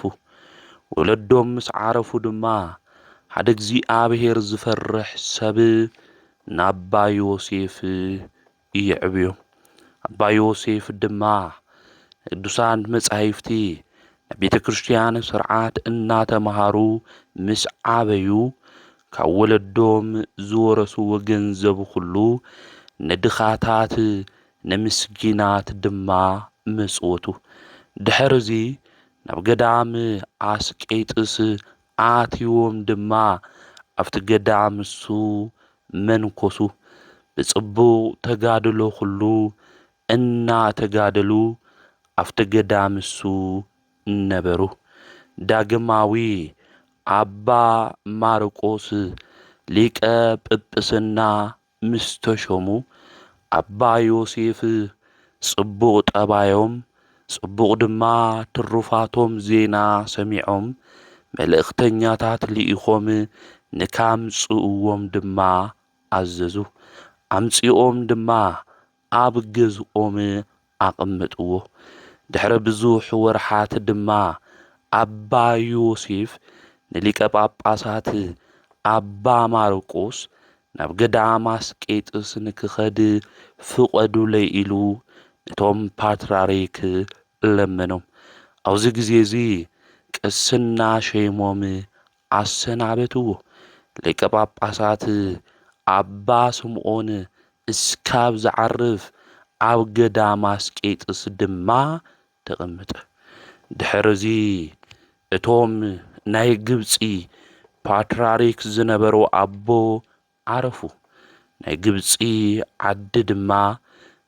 ወለዶም ምስ ዓረፉ ድማ ሓደ እግዚኣብሔር ዝፈርሕ ሰብ ናባ ዮሴፍ ይዕብዩ። ኣባ ዮሴፍ ድማ ቅዱሳን መጻሕፍቲ ናይ ቤተ ክርስቲያን ስርዓት እናተምሃሩ ምስ ዓበዩ ካብ ወለዶም ዝወረስዎ ገንዘብ ኩሉ ንድኻታት ንምስኪናት ድማ ምጽውቱ። ድሕርዚ ናብ ገዳም ኣስቄጥስ ኣትዩዎም ድማ ኣብቲ ገዳም እሱ መንኰሱ። ብጽቡቕ ተጋድሎ ኹሉ እናተጋደሉ ኣብቲ ገዳም እሱ ነበሩ። ዳግማዊ ኣባ ማርቆስ ሊቀ ጵጵስና ምስ ተሾሙ ኣባ ዮሴፍ ጽቡቕ ጠባዮም ጽቡቕ ድማ ትሩፋቶም ዜና ሰሚዖም መልእኽተኛታት ልኢኾም ንካምጽእዎም ድማ ኣዘዙ። ኣምጺኦም ድማ ኣብ ገዝኦም ኣቐመጥዎ። ድሕሪ ብዙሕ ወርሓት ድማ ኣባ ዮሴፍ ንሊቀ ጳጳሳት ኣባ ማርቆስ ናብ ገዳም ኣስቄጥስ ንክኸድ ፍቐዱለይ ኢሉ ነቶም ፓትርያርክ ለመኖም። ኣብዚ ግዜ እዚ ቅስና ሸይሞም ኣሰናበትዎ። ሊቀ ጳጳሳት ኣባ ስምዖን እስካብ ዝዓርፍ ኣብ ገዳም ኣስቄጥስ ድማ ተቐምጠ። ድሕርዚ እቶም ናይ ግብጺ ፓትርያርክ ዝነበሩ ኣቦ ዓረፉ። ናይ ግብጺ ዓዲ ድማ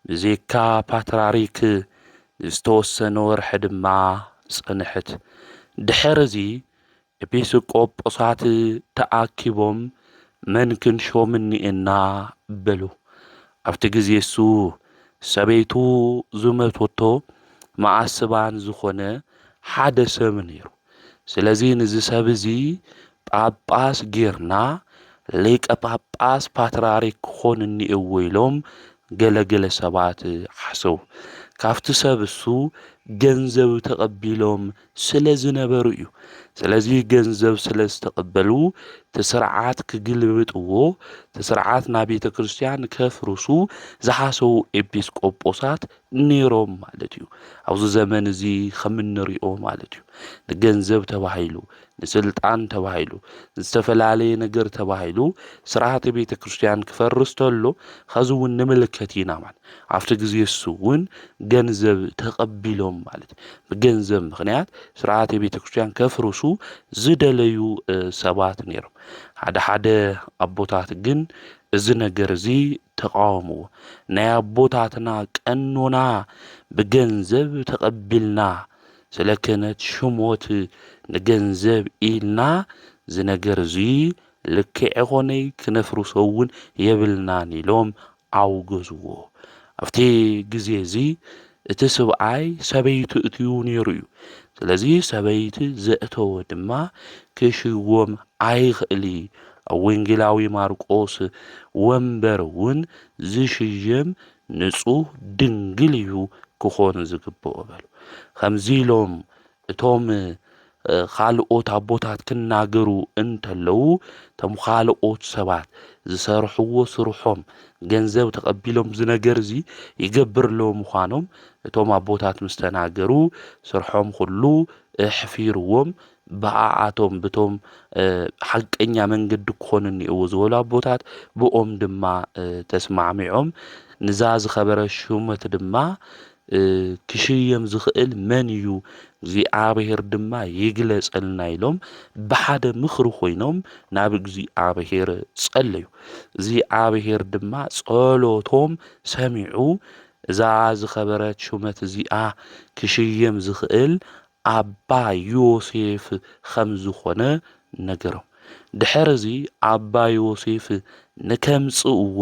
ብዜካ ፓትራሪክ ንዝተወሰነ ወርሒ ድማ ጸንሐት። ድሕርዚ ኤጲስቆጶሳት ተኣኪቦም መን ክንሾም እኒኤና በሉ። ኣብቲ ግዜ እሱ ሰበይቱ ዝመቶቶ መኣስባን ዝኾነ ሓደ ሰብ ነይሩ። ስለዚ ንዚ ሰብ እዚ ጳጳስ ጌርና ሊቀ ጳጳስ ፓትርያርክ ክኾን እኒኤዎ ኢሎም ገለገለ ሰባት ሓሰው ካብቲ ሰብ እሱ ገንዘብ ተቐቢሎም ስለ ዝነበሩ እዩ። ስለዚ ገንዘብ ስለ ዝተቐበሉ ትስርዓት ክግልብጥዎ ትስርዓት ናብ ቤተ ክርስቲያን ከፍርሱ ዝሓሰው ኤጲስቆጶሳት ነይሮም ማለት እዩ። ኣብዚ ዘመን እዚ ከም እንሪኦ ማለት እዩ ንገንዘብ ተባሂሉ ንስልጣን ተባሂሉ ዝተፈላለየ ነገር ተባሂሉ ስርዓተ ቤተ ክርስቲያን ክፈርስ ተሎ ኸዚ እውን ንምልከት ኢና ማለት ኣብቲ ግዜ እሱ እውን ገንዘብ ተቐቢሎም ማለት ብገንዘብ ምክንያት ስርዓተ ቤተ ክርስቲያን ከፍርሱ ዝደለዩ ሰባት ነይሮም ሓደ ሓደ ኣቦታት ግን እዚ ነገር እዚ ተቃወሙ ናይ ኣቦታትና ቀኖና ብገንዘብ ተቀቢልና ስለ ክህነት ሽሞት ንገንዘብ ኢልና እዚ ነገር እዚ ልክዕ ኣይኮነይ ክነፍርሶ እውን የብልናን ኢሎም ኣውገዝዎ ኣብቲ ግዜ እዚ እቲ ስብኣይ ሰበይቱ እትዩ ነይሩ እዩ ስለዚ ሰበይቲ ዘእተወ ድማ ክሽወም ኣይኽእሊ ኣብ ወንጌላዊ ማርቆስ ወንበር እውን ዝሽየም ንጹህ ድንግል እዩ ክኾን ዝግብኦ በሉ ከምዚ ኢሎም እቶም ኻልኦት ኣቦታት ክናገሩ እንተለዉ እቶም ኻልኦት ሰባት ዝሰርሕዎ ስርሖም ገንዘብ ተቐቢሎም እዚ ነገር እዚ ይገብርለዉ ምዃኖም እቶም ኣቦታት ምስ ተናገሩ ስርሖም ኹሉ ኣሕፊርዎም ብኣኣቶም ብቶም ሓቀኛ መንገዲ ክኾኑ እኒኦዎ ዝበሉ ኣቦታት ብኦም ድማ ተስማዕሚዖም ንዛ ዝኸበረ ሹመት ድማ ክሽየም ዝኽእል መን እዩ? እግዚኣብሔር ድማ ይግለጸልና ኢሎም ብሓደ ምኽሪ ኮይኖም ናብ እግዚኣብሔር ጸለዩ። እግዚኣብሔር ድማ ጸሎቶም ሰሚዑ እዛ ዝኸበረት ሹመት እዚኣ ክሽየም ዝኽእል ኣባ ዮሴፍ ኸም ዝዀነ ነገሮም። ድሕርዚ ኣባ ዮሴፍ ንኬምጽእዎ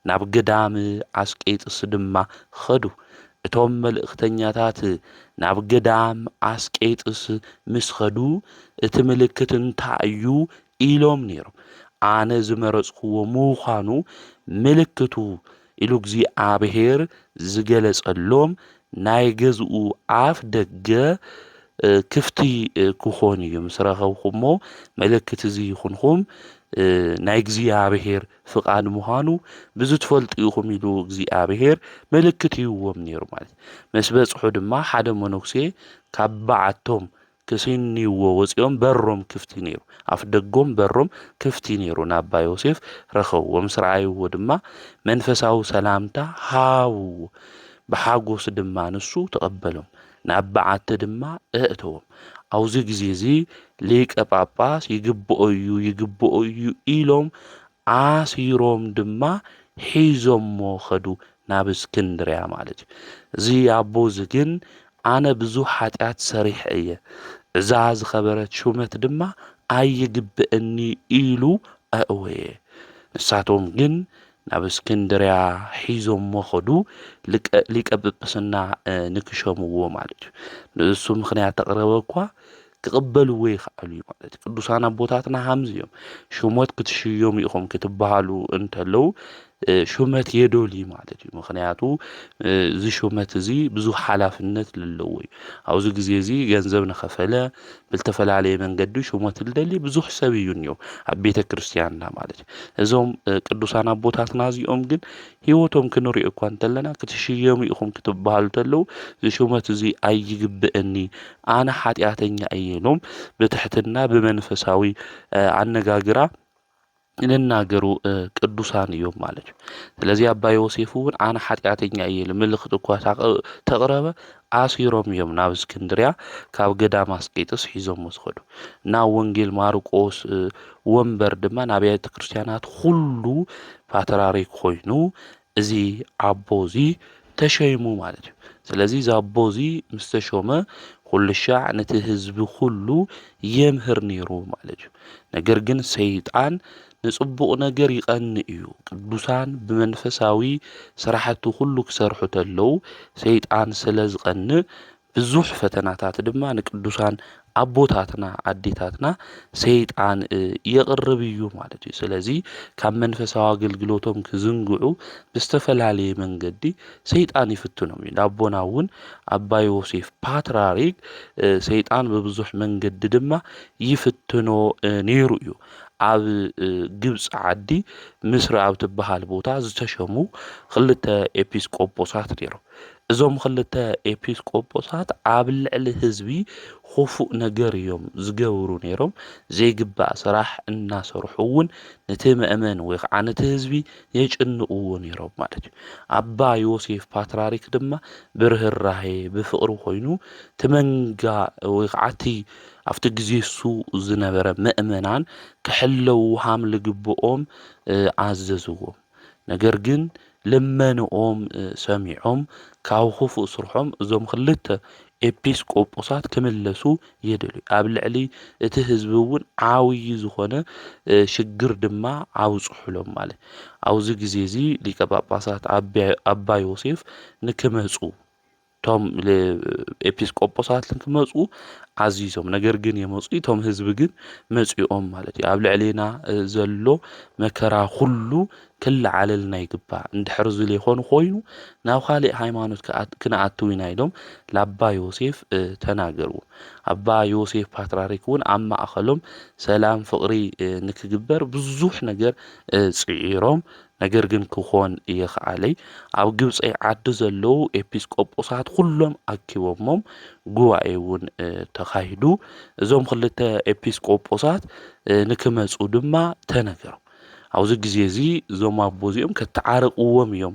ናብ ገዳም ኣስቄጥስ ድማ ኸዱ። እቶም መልእኽተኛታት ናብ ገዳም ኣስቄጥስ ምስ ኸዱ፣ እቲ ምልክት እንታይ እዩ? ኢሎም ነይሮም። ኣነ ዝመረጽክዎ ምዃኑ ምልክቱ ኢሉ እግዚኣብሔር ዝገለጸሎም ናይ ገዝኡ ኣፍ ደገ ክፍቲ ክኾን እዩ ምስ ረኸብኹሞ ምልክት እዚ ይኹንኹም ናይ እግዚኣብሔር ፍቓድ ምዃኑ ብዚ ትፈልጡ ኢኹም ኢሉ እግዚኣብሔር ምልክት ይዎም ነይሩ ማለት መስ በጽሑ ድማ ሓደ መነኩሴ ካብ በዓቶም ክስንይዎ ወጺኦም በሮም ክፍቲ ነይሩ ኣፍ ደጎም በሮም ክፍቲ ነይሩ ናባ ዮሴፍ ረኸብዎ ምስ ረኣይዎ ድማ መንፈሳዊ ሰላምታ ሃብዎ ብሓጎስ ድማ ንሱ ተቐበሎም ናብ በዓቲ ድማ እእተዎም ኣውዚ ግዜ እዚ ሊቀ ጳጳስ ይግብኦ እዩ ይግብኦ እዩ ኢሎም ኣሲሮም ድማ ሒዞሞ ኸዱ ናብ እስክንድርያ ማለት እዩ እዚ ኣቦ እዚ ግን ኣነ ብዙሕ ሓጢኣት ሰሪሐ እየ እዛ ዝኸበረት ሹመት ድማ ኣይግብእኒ ኢሉ ኣእወየ ንሳቶም ግን ናብ እስክንድርያ ሒዞሞ ኸዱ ሊቀ ጵጵስና ንክሸምዎ ማለት እዩ ንእሱ ምክንያት ተቕረበ እኳ ክቕበልዎ ይኽኣሉ እዩ ማለት ቅዱሳን ኣቦታትና ሃምዚ እዮም ሹመት ክትሽየሙ ኢኹም ክትበሃሉ እንተለዉ ሹመት የዶልዩ ማለት እዩ ምክንያቱ እዚ ሹመት እዚ ብዙሕ ሓላፍነት ዘለዎ እዩ ኣብዚ ግዜ እዚ ገንዘብ ንኸፈለ ብዝተፈላለየ መንገዲ ሹመት ልደሊ ብዙሕ ሰብ እዩ እኒኦ ኣብ ቤተ ክርስትያንና ማለት እዩ እዞም ቅዱሳን ኣቦታትና እዚኦም ግን ህይወቶም ክንሪኦ እኳ እንተለና ክትሽየሙ ኢኹም ክትበሃሉ ተለዉ እዚ ሹመት እዚ ኣይግብእኒ ኣነ ሓጢኣተኛ እየ ኢሎም ብትሕትና ብመንፈሳዊ ኣነጋግራ ንናገሩ ቅዱሳን እዮም ማለት እዩ ስለዚ ኣባ ዮሴፍ እውን ኣነ ሓጢኣተኛ እየ ኢሉ ምልክት እኳ ተቕረበ ኣሲሮም እዮም ናብ እስክንድርያ ካብ ገዳም ኣስቄጥስ ሒዞሞ ዝኸዱ ናብ ወንጌል ማርቆስ ወንበር ድማ ንኣብያተ ክርስትያናት ኩሉ ፓትራሪክ ኮይኑ እዚ ኣቦ እዚ ተሸይሙ ማለት እዩ ስለዚ እዚ ኣቦ እዚ ምስ ተሾመ ኩልሻዕ ነቲ ህዝቢ ኩሉ የምህር ነይሩ ማለት እዩ ነገር ግን ሰይጣን ንጽቡቕ ነገር ይቐንእ እዩ ቅዱሳን ብመንፈሳዊ ስራሕቱ ኩሉ ክሰርሑ ተለው ሰይጣን ስለ ዝቐንእ ብዙሕ ፈተናታት ድማ ንቅዱሳን ኣቦታትና ኣዴታትና ሰይጣን የቕርብ እዩ ማለት እዩ። ስለዚ ካብ መንፈሳዊ ኣገልግሎቶም ክዝንግዑ ብዝተፈላለየ መንገዲ ሰይጣን ይፍትኖም እዩ። ንኣቦና እውን ኣባ ዮሴፍ ፓትራሪክ ሰይጣን ብብዙሕ መንገዲ ድማ ይፍትኖ ነይሩ እዩ። ኣብ ግብፂ ዓዲ ምስሪ ኣብ ትበሃል ቦታ ዝተሸሙ ክልተ ኤጲስቆጶሳት ነይሮም። እዞም ኽልተ ኤጲስ ቆጶሳት ኣብ ልዕሊ ህዝቢ ኹፉእ ነገር እዮም ዝገብሩ ነይሮም ዘይግባእ ስራሕ እናሰርሑ እውን ንቲ መእመን ወይ ኸዓ ንቲ ህዝቢ የጭንቕዎ ነይሮም ማለት እዩ ኣባ ዮሴፍ ፓትራሪክ ድማ ብርህራሄ ብፍቕሪ ኮይኑ እቲ መንጋ ወይ ኸዓ እቲ ኣብቲ ግዜ እሱ ዝነበረ መእመናን ክሕለዉ ሃም ልግብኦም ኣዘዝዎም ነገር ግን ልመንኦም ሰሚዖም ካብ ኹፉእ ስርሖም እዞም ኽልተ ኤጲስ ቆጶሳት ክምለሱ የደልዩ ኣብ ልዕሊ እቲ ህዝቢ እውን ዓብዪ ዝኾነ ሽግር ድማ ኣብፅሑሎም ማለት ኣብዚ ግዜ እዚ ሊቀ ጳጳሳት ኣባ ዮሴፍ ንክመፁ እቶም ኤጲስቆጶሳት ክመፁ ዓዚዞም ነገር ግን የመፁ እቶም ህዝቢ ግን መፂኦም ማለት እዩ ኣብ ልዕሌና ዘሎ መከራ ኩሉ ክለዓለልና ይግባእ እንድሕር ዝል ይኾኑ ኮይኑ ናብ ካልእ ሃይማኖት ክነኣትው ኢና ኢሎም ላባ ዮሴፍ ተናገርዎ ኣባ ዮሴፍ ፓትራሪክ እውን ኣብ ማእኸሎም ሰላም ፍቕሪ ንክግበር ብዙሕ ነገር ፅዒሮም ነገር ግን ክኾን እየኸኣለይ ኣብ ግብፀይ ዓዲ ዘለዉ ኤጲስቆጶሳት ኩሎም ኣኪቦሞም ጉባኤ እውን ተኻሂዱ እዞም ክልተ ኤጲስቆጶሳት ንክመፁ ድማ ተነገሮም ኣብዚ ግዜ እዚ እዞም ኣቦ እዚኦም ከተዓርቅዎም እዮም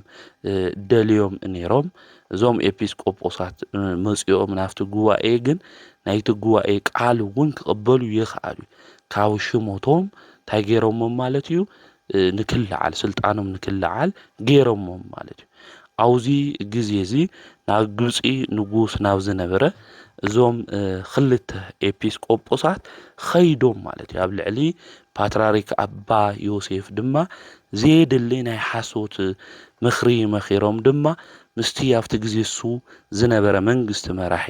ደልዮም ነይሮም እዞም ኤጲስቆጶሳት መፂኦም ናብቲ ጉባኤ ግን ናይቲ ጉባኤ ቃል እውን ክቕበሉ ይኽኣሉ ካብ ሽሞቶም እንታይ ገይሮሞም ማለት እዩ ንክልዓል ስልጣኖም ንክልዓል ገይሮሞም ማለት እዩ። ኣብዙ ግዜ እዚ ናብ ግብፂ ንጉስ ናብ ዝነበረ እዞም ክልተ ኤጲስ ቆጶሳት ኸይዶም ማለት እዩ። ኣብ ልዕሊ ፓትራሪክ ኣባ ዮሴፍ ድማ ዘየድሊ ናይ ሓሶት ምክሪ መኺሮም ድማ ምስቲ ኣብቲ ግዜ እሱ ዝነበረ መንግስቲ መራሒ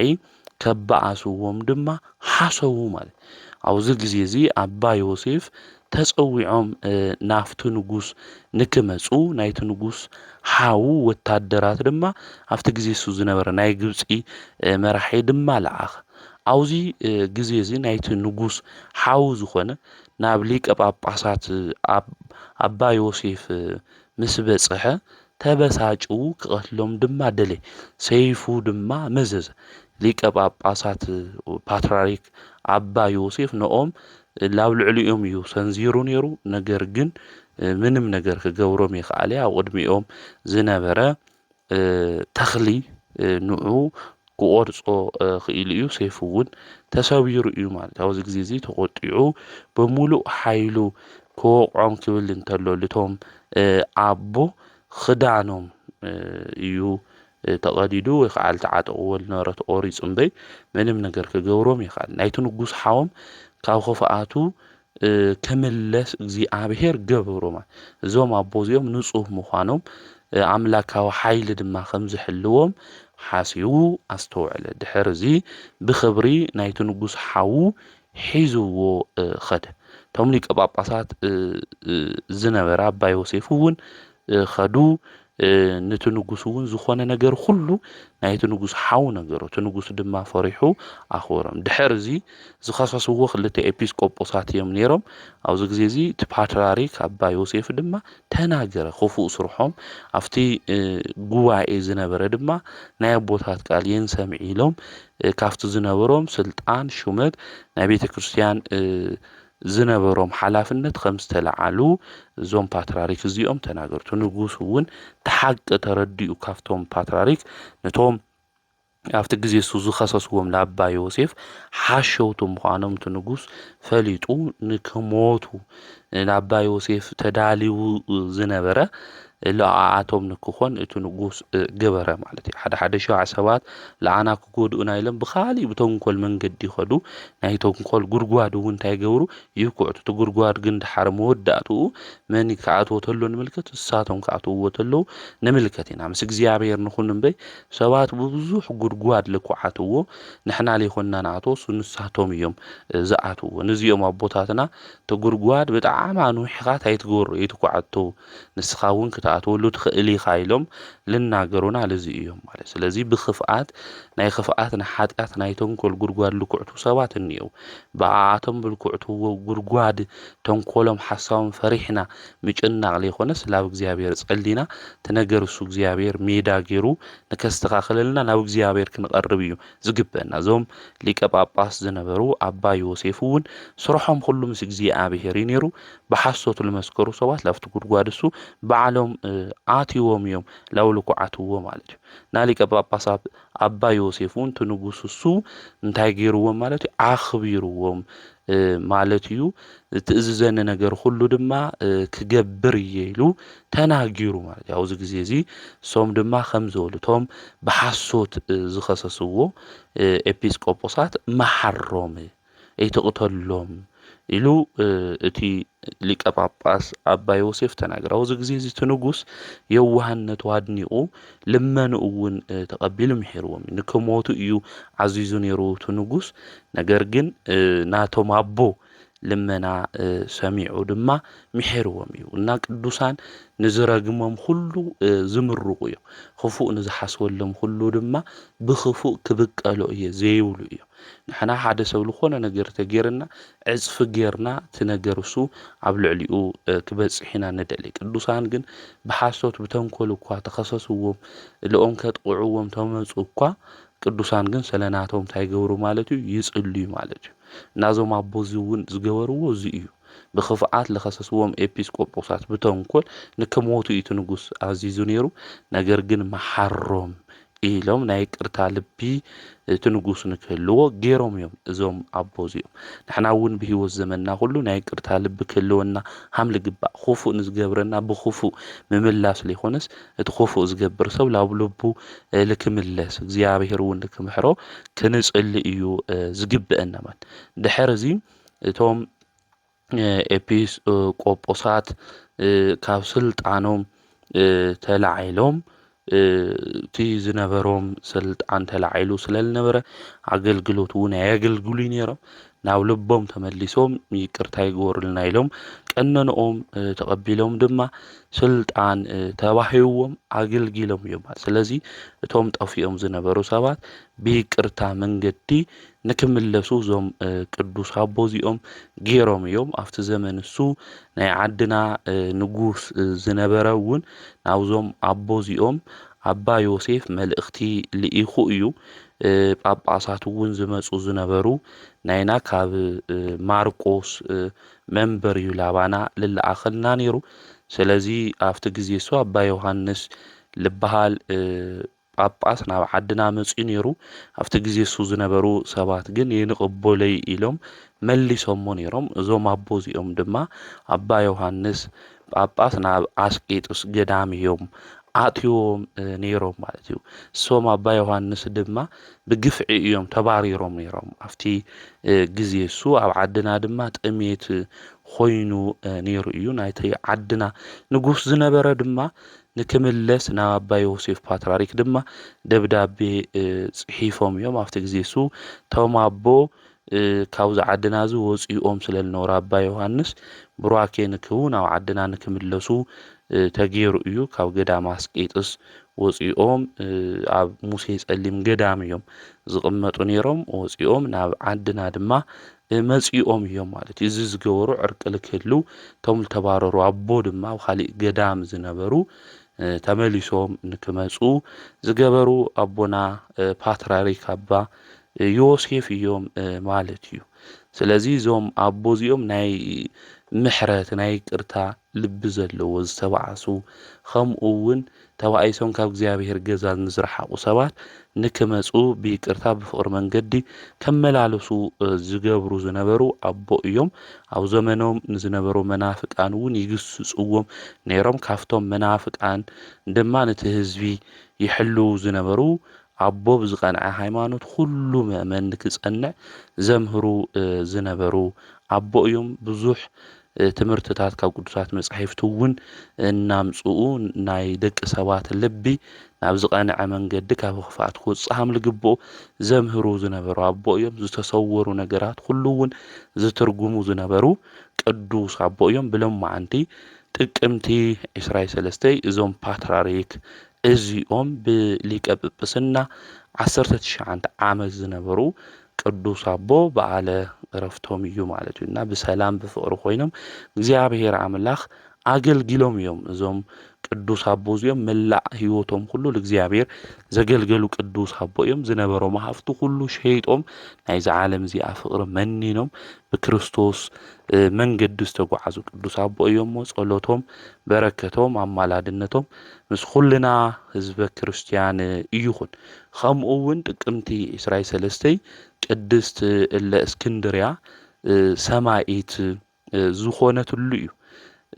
ከበኣስዎም ድማ ሓሰቡ ማለት ኣብዚ ግዜ እዚ ኣባ ዮሴፍ ተጸዊዖም ናብቲ ንጉስ ንክመጹ ናይቲ ንጉስ ሓዉ ወታደራት ድማ ኣብቲ ግዜ እሱ ዝነበረ ናይ ግብጺ መራሒ ድማ ለኣኸ ኣብዚ ግዜ እዚ ናይቲ ንጉስ ሓዉ ዝኾነ ናብ ሊቀ ጳጳሳት ኣባ ዮሴፍ ምስ በጽሐ ተበሳጩ ክቐትሎም ድማ ደለየ፣ ሰይፉ ድማ መዘዘ። ሊቀ ጳጳሳት፣ ፓትርያርክ፣ ኣባ ዮሴፍ ንኦም ላብ ልዕሊኦም እዩ ሰንዚሩ ነይሩ፣ ነገር ግን ምንም ነገር ክገብሮም የክኣለ፣ ኣብ ቕድሚኦም ዝነበረ ተኽሊ ንዑ ክቖርጾ ክኢሉ እዩ፣ ሰይፉ እውን ተሰቢሩ እዩ ማለት ኣብዚ ግዜ እዚ ተቖጢዑ ብምሉእ ሓይሉ ክወቕዖም ክብል እንተሎ ልቶም ኣቦ ኽዳኖም እዩ ተቐዲዱ ወይ ከዓ ልተዓጠቕዎ ልነበረ ተቖሪጹ እምበይ ምንም ነገር ክገብሮም የኻል ናይቲ ንጉስ ሓዎም ካብ ኽፍኣቱ ክምለስ እግዚኣብሔር ገበሮማ። እዞም ኣቦ እዚኦም ንጹህ ምዃኖም ኣምላካዊ ሓይሊ ድማ ከም ዝሕልዎም ሓሲቡ ኣስተውዐለ። ድሕርዚ ብኽብሪ ናይቲ ንጉስ ሓዉ ሒዝዎ ኸደ። እቶም ሊቀ ጳጳሳት ዝነበረ ኣባ ዮሴፍ እውን ኸዱ ንቲ ንጉስ እውን ዝኾነ ነገር ኹሉ ናይቲ ንጉስ ሓው ነገሮ እቲ ንጉስ ድማ ፈሪሑ ኣኽበሮም ድሕር እዚ ዝኸሰስዎ ክልተ ኤጲስ ቆጶሳት እዮም ነይሮም ኣብዚ ግዜ እዚ እቲ ፓትራሪክ ኣባ ዮሴፍ ድማ ተናገረ ክፉእ ስርሖም ኣብቲ ጉባኤ ዝነበረ ድማ ናይ ኣቦታት ቃል የን ሰምዒ ኢሎም ካብቲ ዝነበሮም ስልጣን ሹመት ናይ ቤተ ክርስቲያን ዝነበሮም ሓላፍነት ከም ዝተለዓሉ እዞም ፓትራሪክ እዚኦም ተናገሩ። እቲ ንጉስ እውን እቲ ሓቂ ተረዲኡ ካብቶም ፓትራሪክ ነቶም ኣብቲ ግዜ እሱ ዝኸሰስዎም ለኣባ ዮሴፍ ሓሸውቲ ምዃኖም እቲ ንጉስ ፈሊጡ ንክሞቱ ለኣባ ዮሴፍ ተዳልዩ ዝነበረ ለኣኣቶም ንክኾን እቱ ንጉስ ገበረ ማለት እዩ። ሓደ ሓደ ሸዋዕ ሰባት ለኣና ክጎድኡና ኢሎም ብኻሊእ ብተንኮል መንገዲ ይኸዱ፣ ናይ ተንኮል ጉድጓድ እውን እንታይ ይገብሩ ይኩዕቱ፣ እቲ ጉድጓድ ግን ደሓር መወዳእትኡ መን ክኣትዎ ተሎ ንምልከት፣ እሳቶም ክኣትውዎ ተለዉ ንምልከት ኢና። ምስ እግዚኣብሔር ንኹን እምበይ ሰባት ብብዙሕ ጉድጓድ ልኩዓትዎ ንሕና ለይኮንና ንኣትዎ እሱ ንሳቶም እዮም ዝኣትውዎ። ንዚኦም ኣቦታትና እቲ ጉድጓድ ብጣዕሚ ኣንዊሕኻ ታይ ትገብሮ የይትኩዓቶ፣ ንስኻ እውን ክትኣትወሉ ትኽእል ኢኻ ኢሎም ልናገሩና ልዚ እዮም ማለት ስለዚ ብክፍኣት ናይ ክፍኣት ንሓጢኣት ናይ ተንኮል ጉድጓድ ልኩዕቱ ሰባት እኒየው ብኣኣቶም ብልኩዕቱ ጉድጓድ ተንኮሎም ሓሳቦም ፈሪሕና ምጭናቕ ዘይኮነ ስላብ እግዚኣብሔር ጸሊና ትነገር እሱ እግዚኣብሔር ሜዳ ገይሩ ንከስተኻክለልና ናብ እግዚኣብሔር ክንቐርብ እዩ ዝግበና እዞም ሊቀ ጳጳስ ዝነበሩ ኣባ ዮሴፍ እውን ስርሖም ኩሉ ምስ እግዚኣብሔር እዩ ነይሩ ብሓሶት ልመስከሩ ሰባት ላብቲ ጉድጓድ እሱ በዓሎም ኣትዎም እዮም ላውሉ ኩዓትዎ ማለት እዩ ናሊቀ ጳጳሳት ኣባ ዮሴፍ እውን እቲ ንጉስ እሱ እንታይ ገይርዎም ማለት እዩ ኣኽቢርዎም ማለት እዩ ትእዝዘኒ ነገር ሁሉ ድማ ክገብር እየ ኢሉ ተናጊሩ ማለት እዩ ኣብዚ ግዜ እዚ እሶም ድማ ከም ዝበሉ እቶም ብሓሶት ዝኸሰስዎ ኤጲስቆጶሳት መሓሮም ኣይትቕተሎም ኢሉ እቲ ሊቀ ጳጳስ ኣባ ዮሴፍ ተናገረ። ኣብዚ ግዜ እዚ እቲ ንጉስ የዋህነቱ ኣድኒቑ ልመንኡ እውን ተቐቢሉ ምሒርዎም እዩ። ንክሞቱ እዩ ዓዚዙ ነይሩ እቲ ንጉስ፣ ነገር ግን ናቶም ኣቦ ልመና ሰሚዑ ድማ ምሒርዎም እዩ እና ቅዱሳን ንዝረግሞም ኩሉ ዝምርቑ እዮም፣ ክፉእ ንዝሓስበሎም ኩሉ ድማ ብክፉእ ክብቀሎ እየ ዘይብሉ እዩ። ንሕና ሓደ ሰብ ልኾነ ነገር ተገይርና ዕጽፊ ገይርና እቲ ነገር እሱ ኣብ ልዕሊኡ ክበጽሕ ኢና ንደሊ። ቅዱሳን ግን ብሓሶት ብተንኮል እኳ ተኸሰስዎም ልኦም ከጥቕዕዎም ተመጹ እኳ ቅዱሳን ግን ሰለናቶም እንታይ ገብሩ ማለት እዩ ይጽልዩ ማለት እዩ እና እዞም ኣቦ እዚ እውን ዝገበርዎ እዚ እዩ ብክፍኣት ለኸሰስዎም ኤጲስቆጶሳት ብተንኮል ንክሞቱ እዩ እቲ ንጉስ ኣዚዙ ነይሩ ነገር ግን መሓሮም ኢሎም ናይ ይቅርታ ልቢ እቲ ንጉስ ንክህልዎ ጌሮም እዮም እዞም ኣቦ እዚኦም ንሕና እውን ብህይወት ዘመንና ኩሉ ናይ ይቅርታ ልቢ ክህልወና ሃም ልግባእ ኹፉእ ንዝገብረና ብኹፉእ ምምላስ ለይኮነስ እቲ ኹፉእ ዝገብር ሰብ ላብ ልቡ ልክምለስ እግዚኣብሔር እውን ልክምሕሮ ክንጽሊ እዩ ዝግበአና ማለት ድሕር እዚ እቶም ኤጲስ ቆጶሳት ካብ ስልጣኖም ተላዒሎም እቲ ዝነበሮም ስልጣን ተላዒሉ ስለ ዝነበረ ኣገልግሎት እውን ኣየገልግሉ ነይሮም ናብ ልቦም ተመሊሶም ይቅርታ ይግበሩልና ኢሎም ቀነንኦም ተቐቢሎም ድማ ስልጣን ተባሂዎም ኣገልጊሎም እዮም። ስለዚ እቶም ጠፊኦም ዝነበሩ ሰባት ብይቅርታ መንገዲ ንክምለሱ እዞም ቅዱስ ኣቦ እዚኦም ገይሮም እዮም። ኣብቲ ዘመን ንሱ ናይ ዓድና ንጉስ ዝነበረ እውን ናብዞም ኣቦ እዚኦም ኣባ ዮሴፍ መልእኽቲ ልኢኹ እዩ። ጳጳሳት እውን ዝመፁ ዝነበሩ ናይና ካብ ማርቆስ መንበር እዩ ላባና ልለኣኸልና ነይሩ። ስለዚ ኣብቲ ግዜ እሱ ኣባ ዮሃንስ ልበሃል ጳጳስ ናብ ዓድና መጺኡ ነይሩ፣ ኣብቲ ግዜ እሱ ዝነበሩ ሰባት ግን ይንቕቡለይ ኢሎም መሊሶሞ ነይሮም፣ እዞም ኣቦ እዚኦም ድማ ኣባ ዮሃንስ ጳጳስ ናብ ኣስቄጥስ ገዳም እዮም ኣእትዮም ነይሮም ማለት እዩ። እሶም ኣባ ዮሃንስ ድማ ብግፍዒ እዮም ተባሪሮም ነይሮም፣ ኣብቲ ግዜ እሱ ኣብ ዓድና ድማ ጥሜት ኾይኑ ነይሩ እዩ፣ ናይቲ ዓድና ንጉስ ዝነበረ ድማ ንክምለስ ናብ ኣባ ዮሴፍ ፓትራሪክ ድማ ደብዳቤ ጽሒፎም እዮም። ኣብቲ ግዜ እሱ እቶም ኣቦ ካብዚ ዓድና እዚ ወጺኦም ስለ ዝነበሩ ኣባ ዮሃንስ ቡራኬ ንክቡ ናብ ዓድና ንክምለሱ ተገይሩ እዩ። ካብ ገዳም ኣስቄጥስ ወጺኦም ኣብ ሙሴ ጸሊም ገዳም እዮም ዝቕመጡ ነይሮም። ወጺኦም ናብ ዓድና ድማ መጺኦም እዮም ማለት እዩ እዚ ዝገበሩ ዕርቂ ልክህልው እቶም ልተባረሩ ኣቦ ድማ ኣብ ካሊእ ገዳም ዝነበሩ ተመሊሶም ንክመጹ ዝገበሩ ኣቦና ፓትራሪክ ኣባ ዮሴፍ እዮም ማለት እዩ ስለዚ እዞም ኣቦ እዚኦም ናይ ምሕረት ናይ ቅርታ ልቢ ዘለዎ ዝተባኣሱ ከምኡ ውን ተባኢሶም ካብ እግዚኣብሄር ገዛ ንዝረሓቁ ሰባት ንክመጹ ብይቅርታ ብፍቅሪ መንገዲ ከመላለሱ ዝገብሩ ዝነበሩ ኣቦ እዮም ኣብ ዘመኖም ንዝነበሩ መናፍቃን ውን ይግስጽዎም ነይሮም ካብቶም መናፍቃን ድማ ነቲ ህዝቢ ይሕልው ዝነበሩ ኣቦ ብዝቀንዐ ሃይማኖት ኩሉ መእመን ንክጸንዕ ዘምህሩ ዝነበሩ ኣቦ እዮም ብዙሕ ትምህርትታት ካብ ቅዱሳት መጻሕፍቲ እውን እናምጽኡ ናይ ደቂ ሰባት ልቢ ናብ ዝቐንዐ መንገዲ ካብ ኽፍኣት ክወጽእ ከም ዝግብኦ ዘምህሩ ዝነበሩ ኣቦ እዮም። ዝተሰወሩ ነገራት ኩሉ እውን ዝትርጉሙ ዝነበሩ ቅዱስ ኣቦ እዮም። ብሎማዓንቲ ጥቅምቲ ዕስራይ ሰለስተይ እዞም ፓትራሪክ እዚኦም ብሊቀ ጵጵስና ዓሰርተ ትሽዓንተ ዓመት ዝነበሩ ቅዱስ ኣቦ በዓለ ዕረፍቶም እዩ ማለት እዩ እና ብሰላም ብፍቕሪ ኮይኖም እግዚኣብሔር ኣምላኽ ኣገልጊሎም እዮም እዞም ቅዱስ ኣቦ እዚኦም መላእ ህይወቶም ኩሉ ንእግዚኣብሔር ዘገልገሉ ቅዱስ ኣቦ እዮም ዝነበሮም ሃፍቲ ኩሉ ሸይጦም ናይዚ ዓለም እዚኣ ፍቕሪ መኒኖም ብክርስቶስ መንገዲ ዝተጓዓዙ ቅዱስ ኣቦ እዮም እሞ ጸሎቶም በረከቶም ኣማላድነቶም ምስ ኩልና ህዝበ ክርስቲያን ይኹን ኸምኡ እውን ጥቅምቲ ዕስራይ ሰለስተይ ቅድስት እለ እስክንድርያ ሰማኢት ዝኾነትሉ እዩ።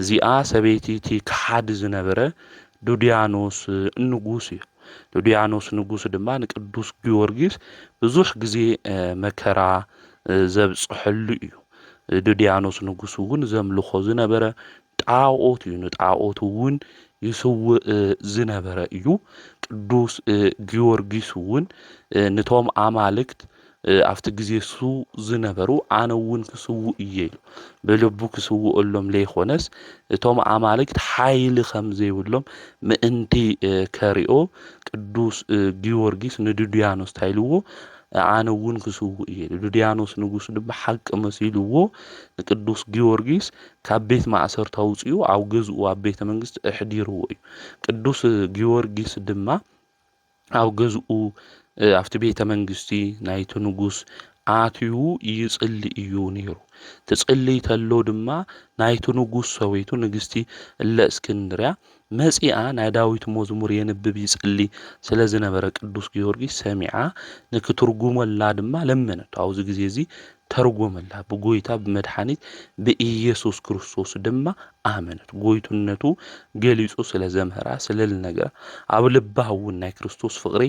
እዚኣ ሰበይቲ እቲ ከሓዲ ዝነበረ ዱድያኖስ ንጉስ እዩ። ዱድያኖስ ንጉስ ድማ ንቅዱስ ጊዮርጊስ ብዙሕ ግዜ መከራ ዘብፅሐሉ እዩ። ዱድያኖስ ንጉስ እውን ዘምልኾ ዝነበረ ጣኦት እዩ ንጣኦት እውን ይስውእ ዝነበረ እዩ ቅዱስ ጊዮርጊስ እውን ንቶም ኣማልክት ኣብቲ ግዜ ሱ ዝነበሩ ኣነ እውን ክስውእ እየ ኢሉ ብልቡ ክስውእሎም ለይኮነስ እቶም ኣማልክት ሓይሊ ከም ዘይብሎም ምእንቲ ከሪኦ ቅዱስ ጊዮርጊስ ንድድያኖስ እንታይ ኢልዎ ኣነ እውን ክስውእ እየ ኢሉ ድድያኖስ ንጉስ ድማ ሓቂ መሲልዎ ንቅዱስ ጊዮርጊስ ካብ ቤት ማእሰርቲ ኣውጺኡ ኣብ ገዝኡ ኣብ ቤተ መንግስቲ ኣሕዲርዎ እዩ። ቅዱስ ጊዮርጊስ ድማ ኣብ ገዝኡ ኣብቲ ቤተ መንግስቲ ናይቲ ንጉስ ኣትዩ ይጽሊ እዩ ነይሩ። ትጽልይ ተሎ ድማ ናይቲ ንጉስ ሰበይቱ ንግስቲ እለ እስክንድርያ መጺኣ ናይ ዳዊት መዝሙር የንብብ ይጽሊ ስለ ዝነበረ ቅዱስ ጊዮርጊስ ሰሚዓ ንክትርጉመላ ድማ ለመነቶ ኣብዚ ግዜ እዚ ተርጎመላ ብጎይታ ብመድሓኒት ብኢየሱስ ክርስቶስ ድማ ኣመነት ጎይትነቱ ገሊጹ ስለ ዘምህራ ስለ ልነግራ ኣብ ልባ እውን ናይ ክርስቶስ ፍቕሪ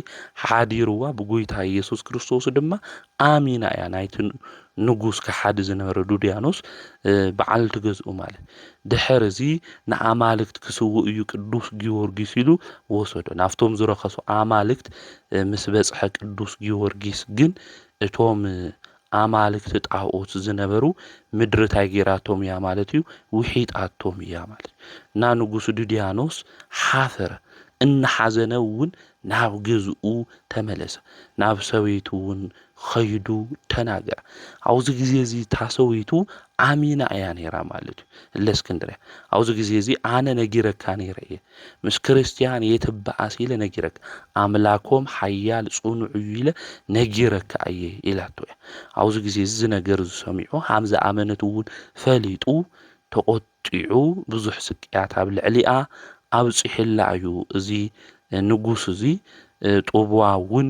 ሓዲርዋ ብጎይታ ኢየሱስ ክርስቶስ ድማ ኣሚና እያ ናይቲ ንጉስ ከሓዲ ዝነበረ ዱድያኖስ በዓልቲ ገዝኡ ማለት ድሕር እዚ ንኣማልክት ክስውእ እዩ ቅዱስ ጊዮርጊስ ኢሉ ወሰዶ ናብቶም ዝረኸሱ ኣማልክት ምስ በፅሐ ቅዱስ ጊዮርጊስ ግን እቶም ኣማልክቲ ጣኦት ዝነበሩ ምድሪ ታይ ጌራቶም እያ ማለት እዩ ውሒጣቶም እያ ማለት እና ንጉስ ዱድያኖስ ሓፈረ እናሓዘነ እውን ናብ ገዝኡ ተመለሰ፣ ናብ ሰበይቱውን ኸይዱ ተናገረ። ኣብዚ ግዜ እዚ እታ ሰበይቱ ኣሚና እያ ነይራ ማለት እዩ። እለእስክንድርያ ኣብዚ ግዜ እዚ ኣነ ነጊረካ ነይረ እየ፣ ምስ ክርስትያን የትበኣስ ኢለ ነጊረካ፣ ኣምላኮም ሓያል ጽኑዕ እዩ ኢለ ነጊረካ እየ ኢላቶ እያ። ኣብዚ ግዜ እዚ ነገር እዚ ሰሚዑ ሃም ዝኣመነት እውን ፈሊጡ ተቆጥ ኣውጢዑ ብዙሕ ስቅያት ኣብ ልዕሊኣ ኣብጺሑላ እዩ። እዚ ንጉስ እዚ ጡብዋ እውን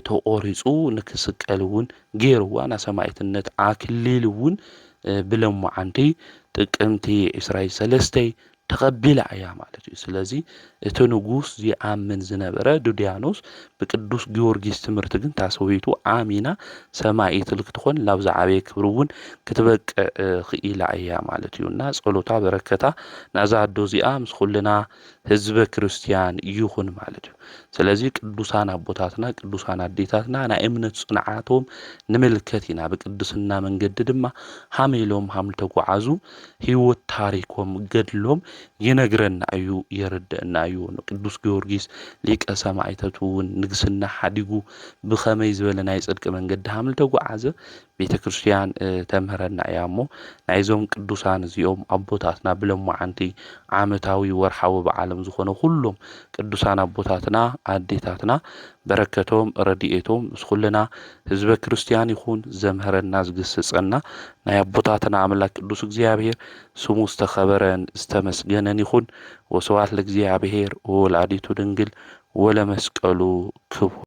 ተቖሪጹ ንክስቀል እውን ገይርዋ፣ ናይ ሰማኢትነት ኣክሊል እውን ብለሞዓንቲ ጥቅምቲ ዕስራይ ሰለስተይ ተቐቢላ እያ ማለት እዩ። ስለዚ እቲ ንጉስ ዚኣምን ዝነበረ ዱድያኖስ ብቅዱስ ጊዮርጊስ ትምህርቲ ግን ታሰዊቱ ኣሚና ሰማኢት ልክትኾን ላብ ዝዓበየ ክብሪ እውን ክትበቅዕ ኽኢላ እያ ማለት እዩ እና ጸሎታ በረከታ ናዛ ኣዶ እዚኣ ምስ ኩልና ህዝበ ክርስቲያን ይኹን ማለት እዩ ስለዚ ቅዱሳን ኣቦታትና ቅዱሳን ኣዴታትና ናይ እምነት ጽንዓቶም ንምልከት ኢና ብቅድስና መንገዲ ድማ ሃመ ኢሎም ሃም ተጓዓዙ ህይወት ታሪኮም ገድሎም ይነግረና እዩ የርደእና እዩ ንቅዱስ ጊዮርጊስ ሊቀ ሰማእተቱ እውን ንግስና ሓዲጉ ብከመይ ዝበለ ናይ ጽድቂ መንገዲ ሃም ተጓዓዘ ቤተ ክርስቲያን ተምህረና እያ እሞ ናይዞም ቅዱሳን እዚኦም ኣቦታትና ብለማዓንቲ ዓመታዊ ወርሓዊ በዓሎም ዝኾነ ኩሎም ቅዱሳን ኣቦታትና ኣዴታትና በረከቶም ረድኤቶም ምስ ኩልና ህዝበ ክርስትያን ይኹን ዘምህረና ዝግስጸና ናይ ኣቦታትና ኣምላክ ቅዱስ እግዚኣብሔር ስሙ ዝተኸበረን ዝተመስገነን ይኹን ወስብሐት ለእግዚኣብሔር ወወላዲቱ ድንግል ወለመስቀሉ ክቡር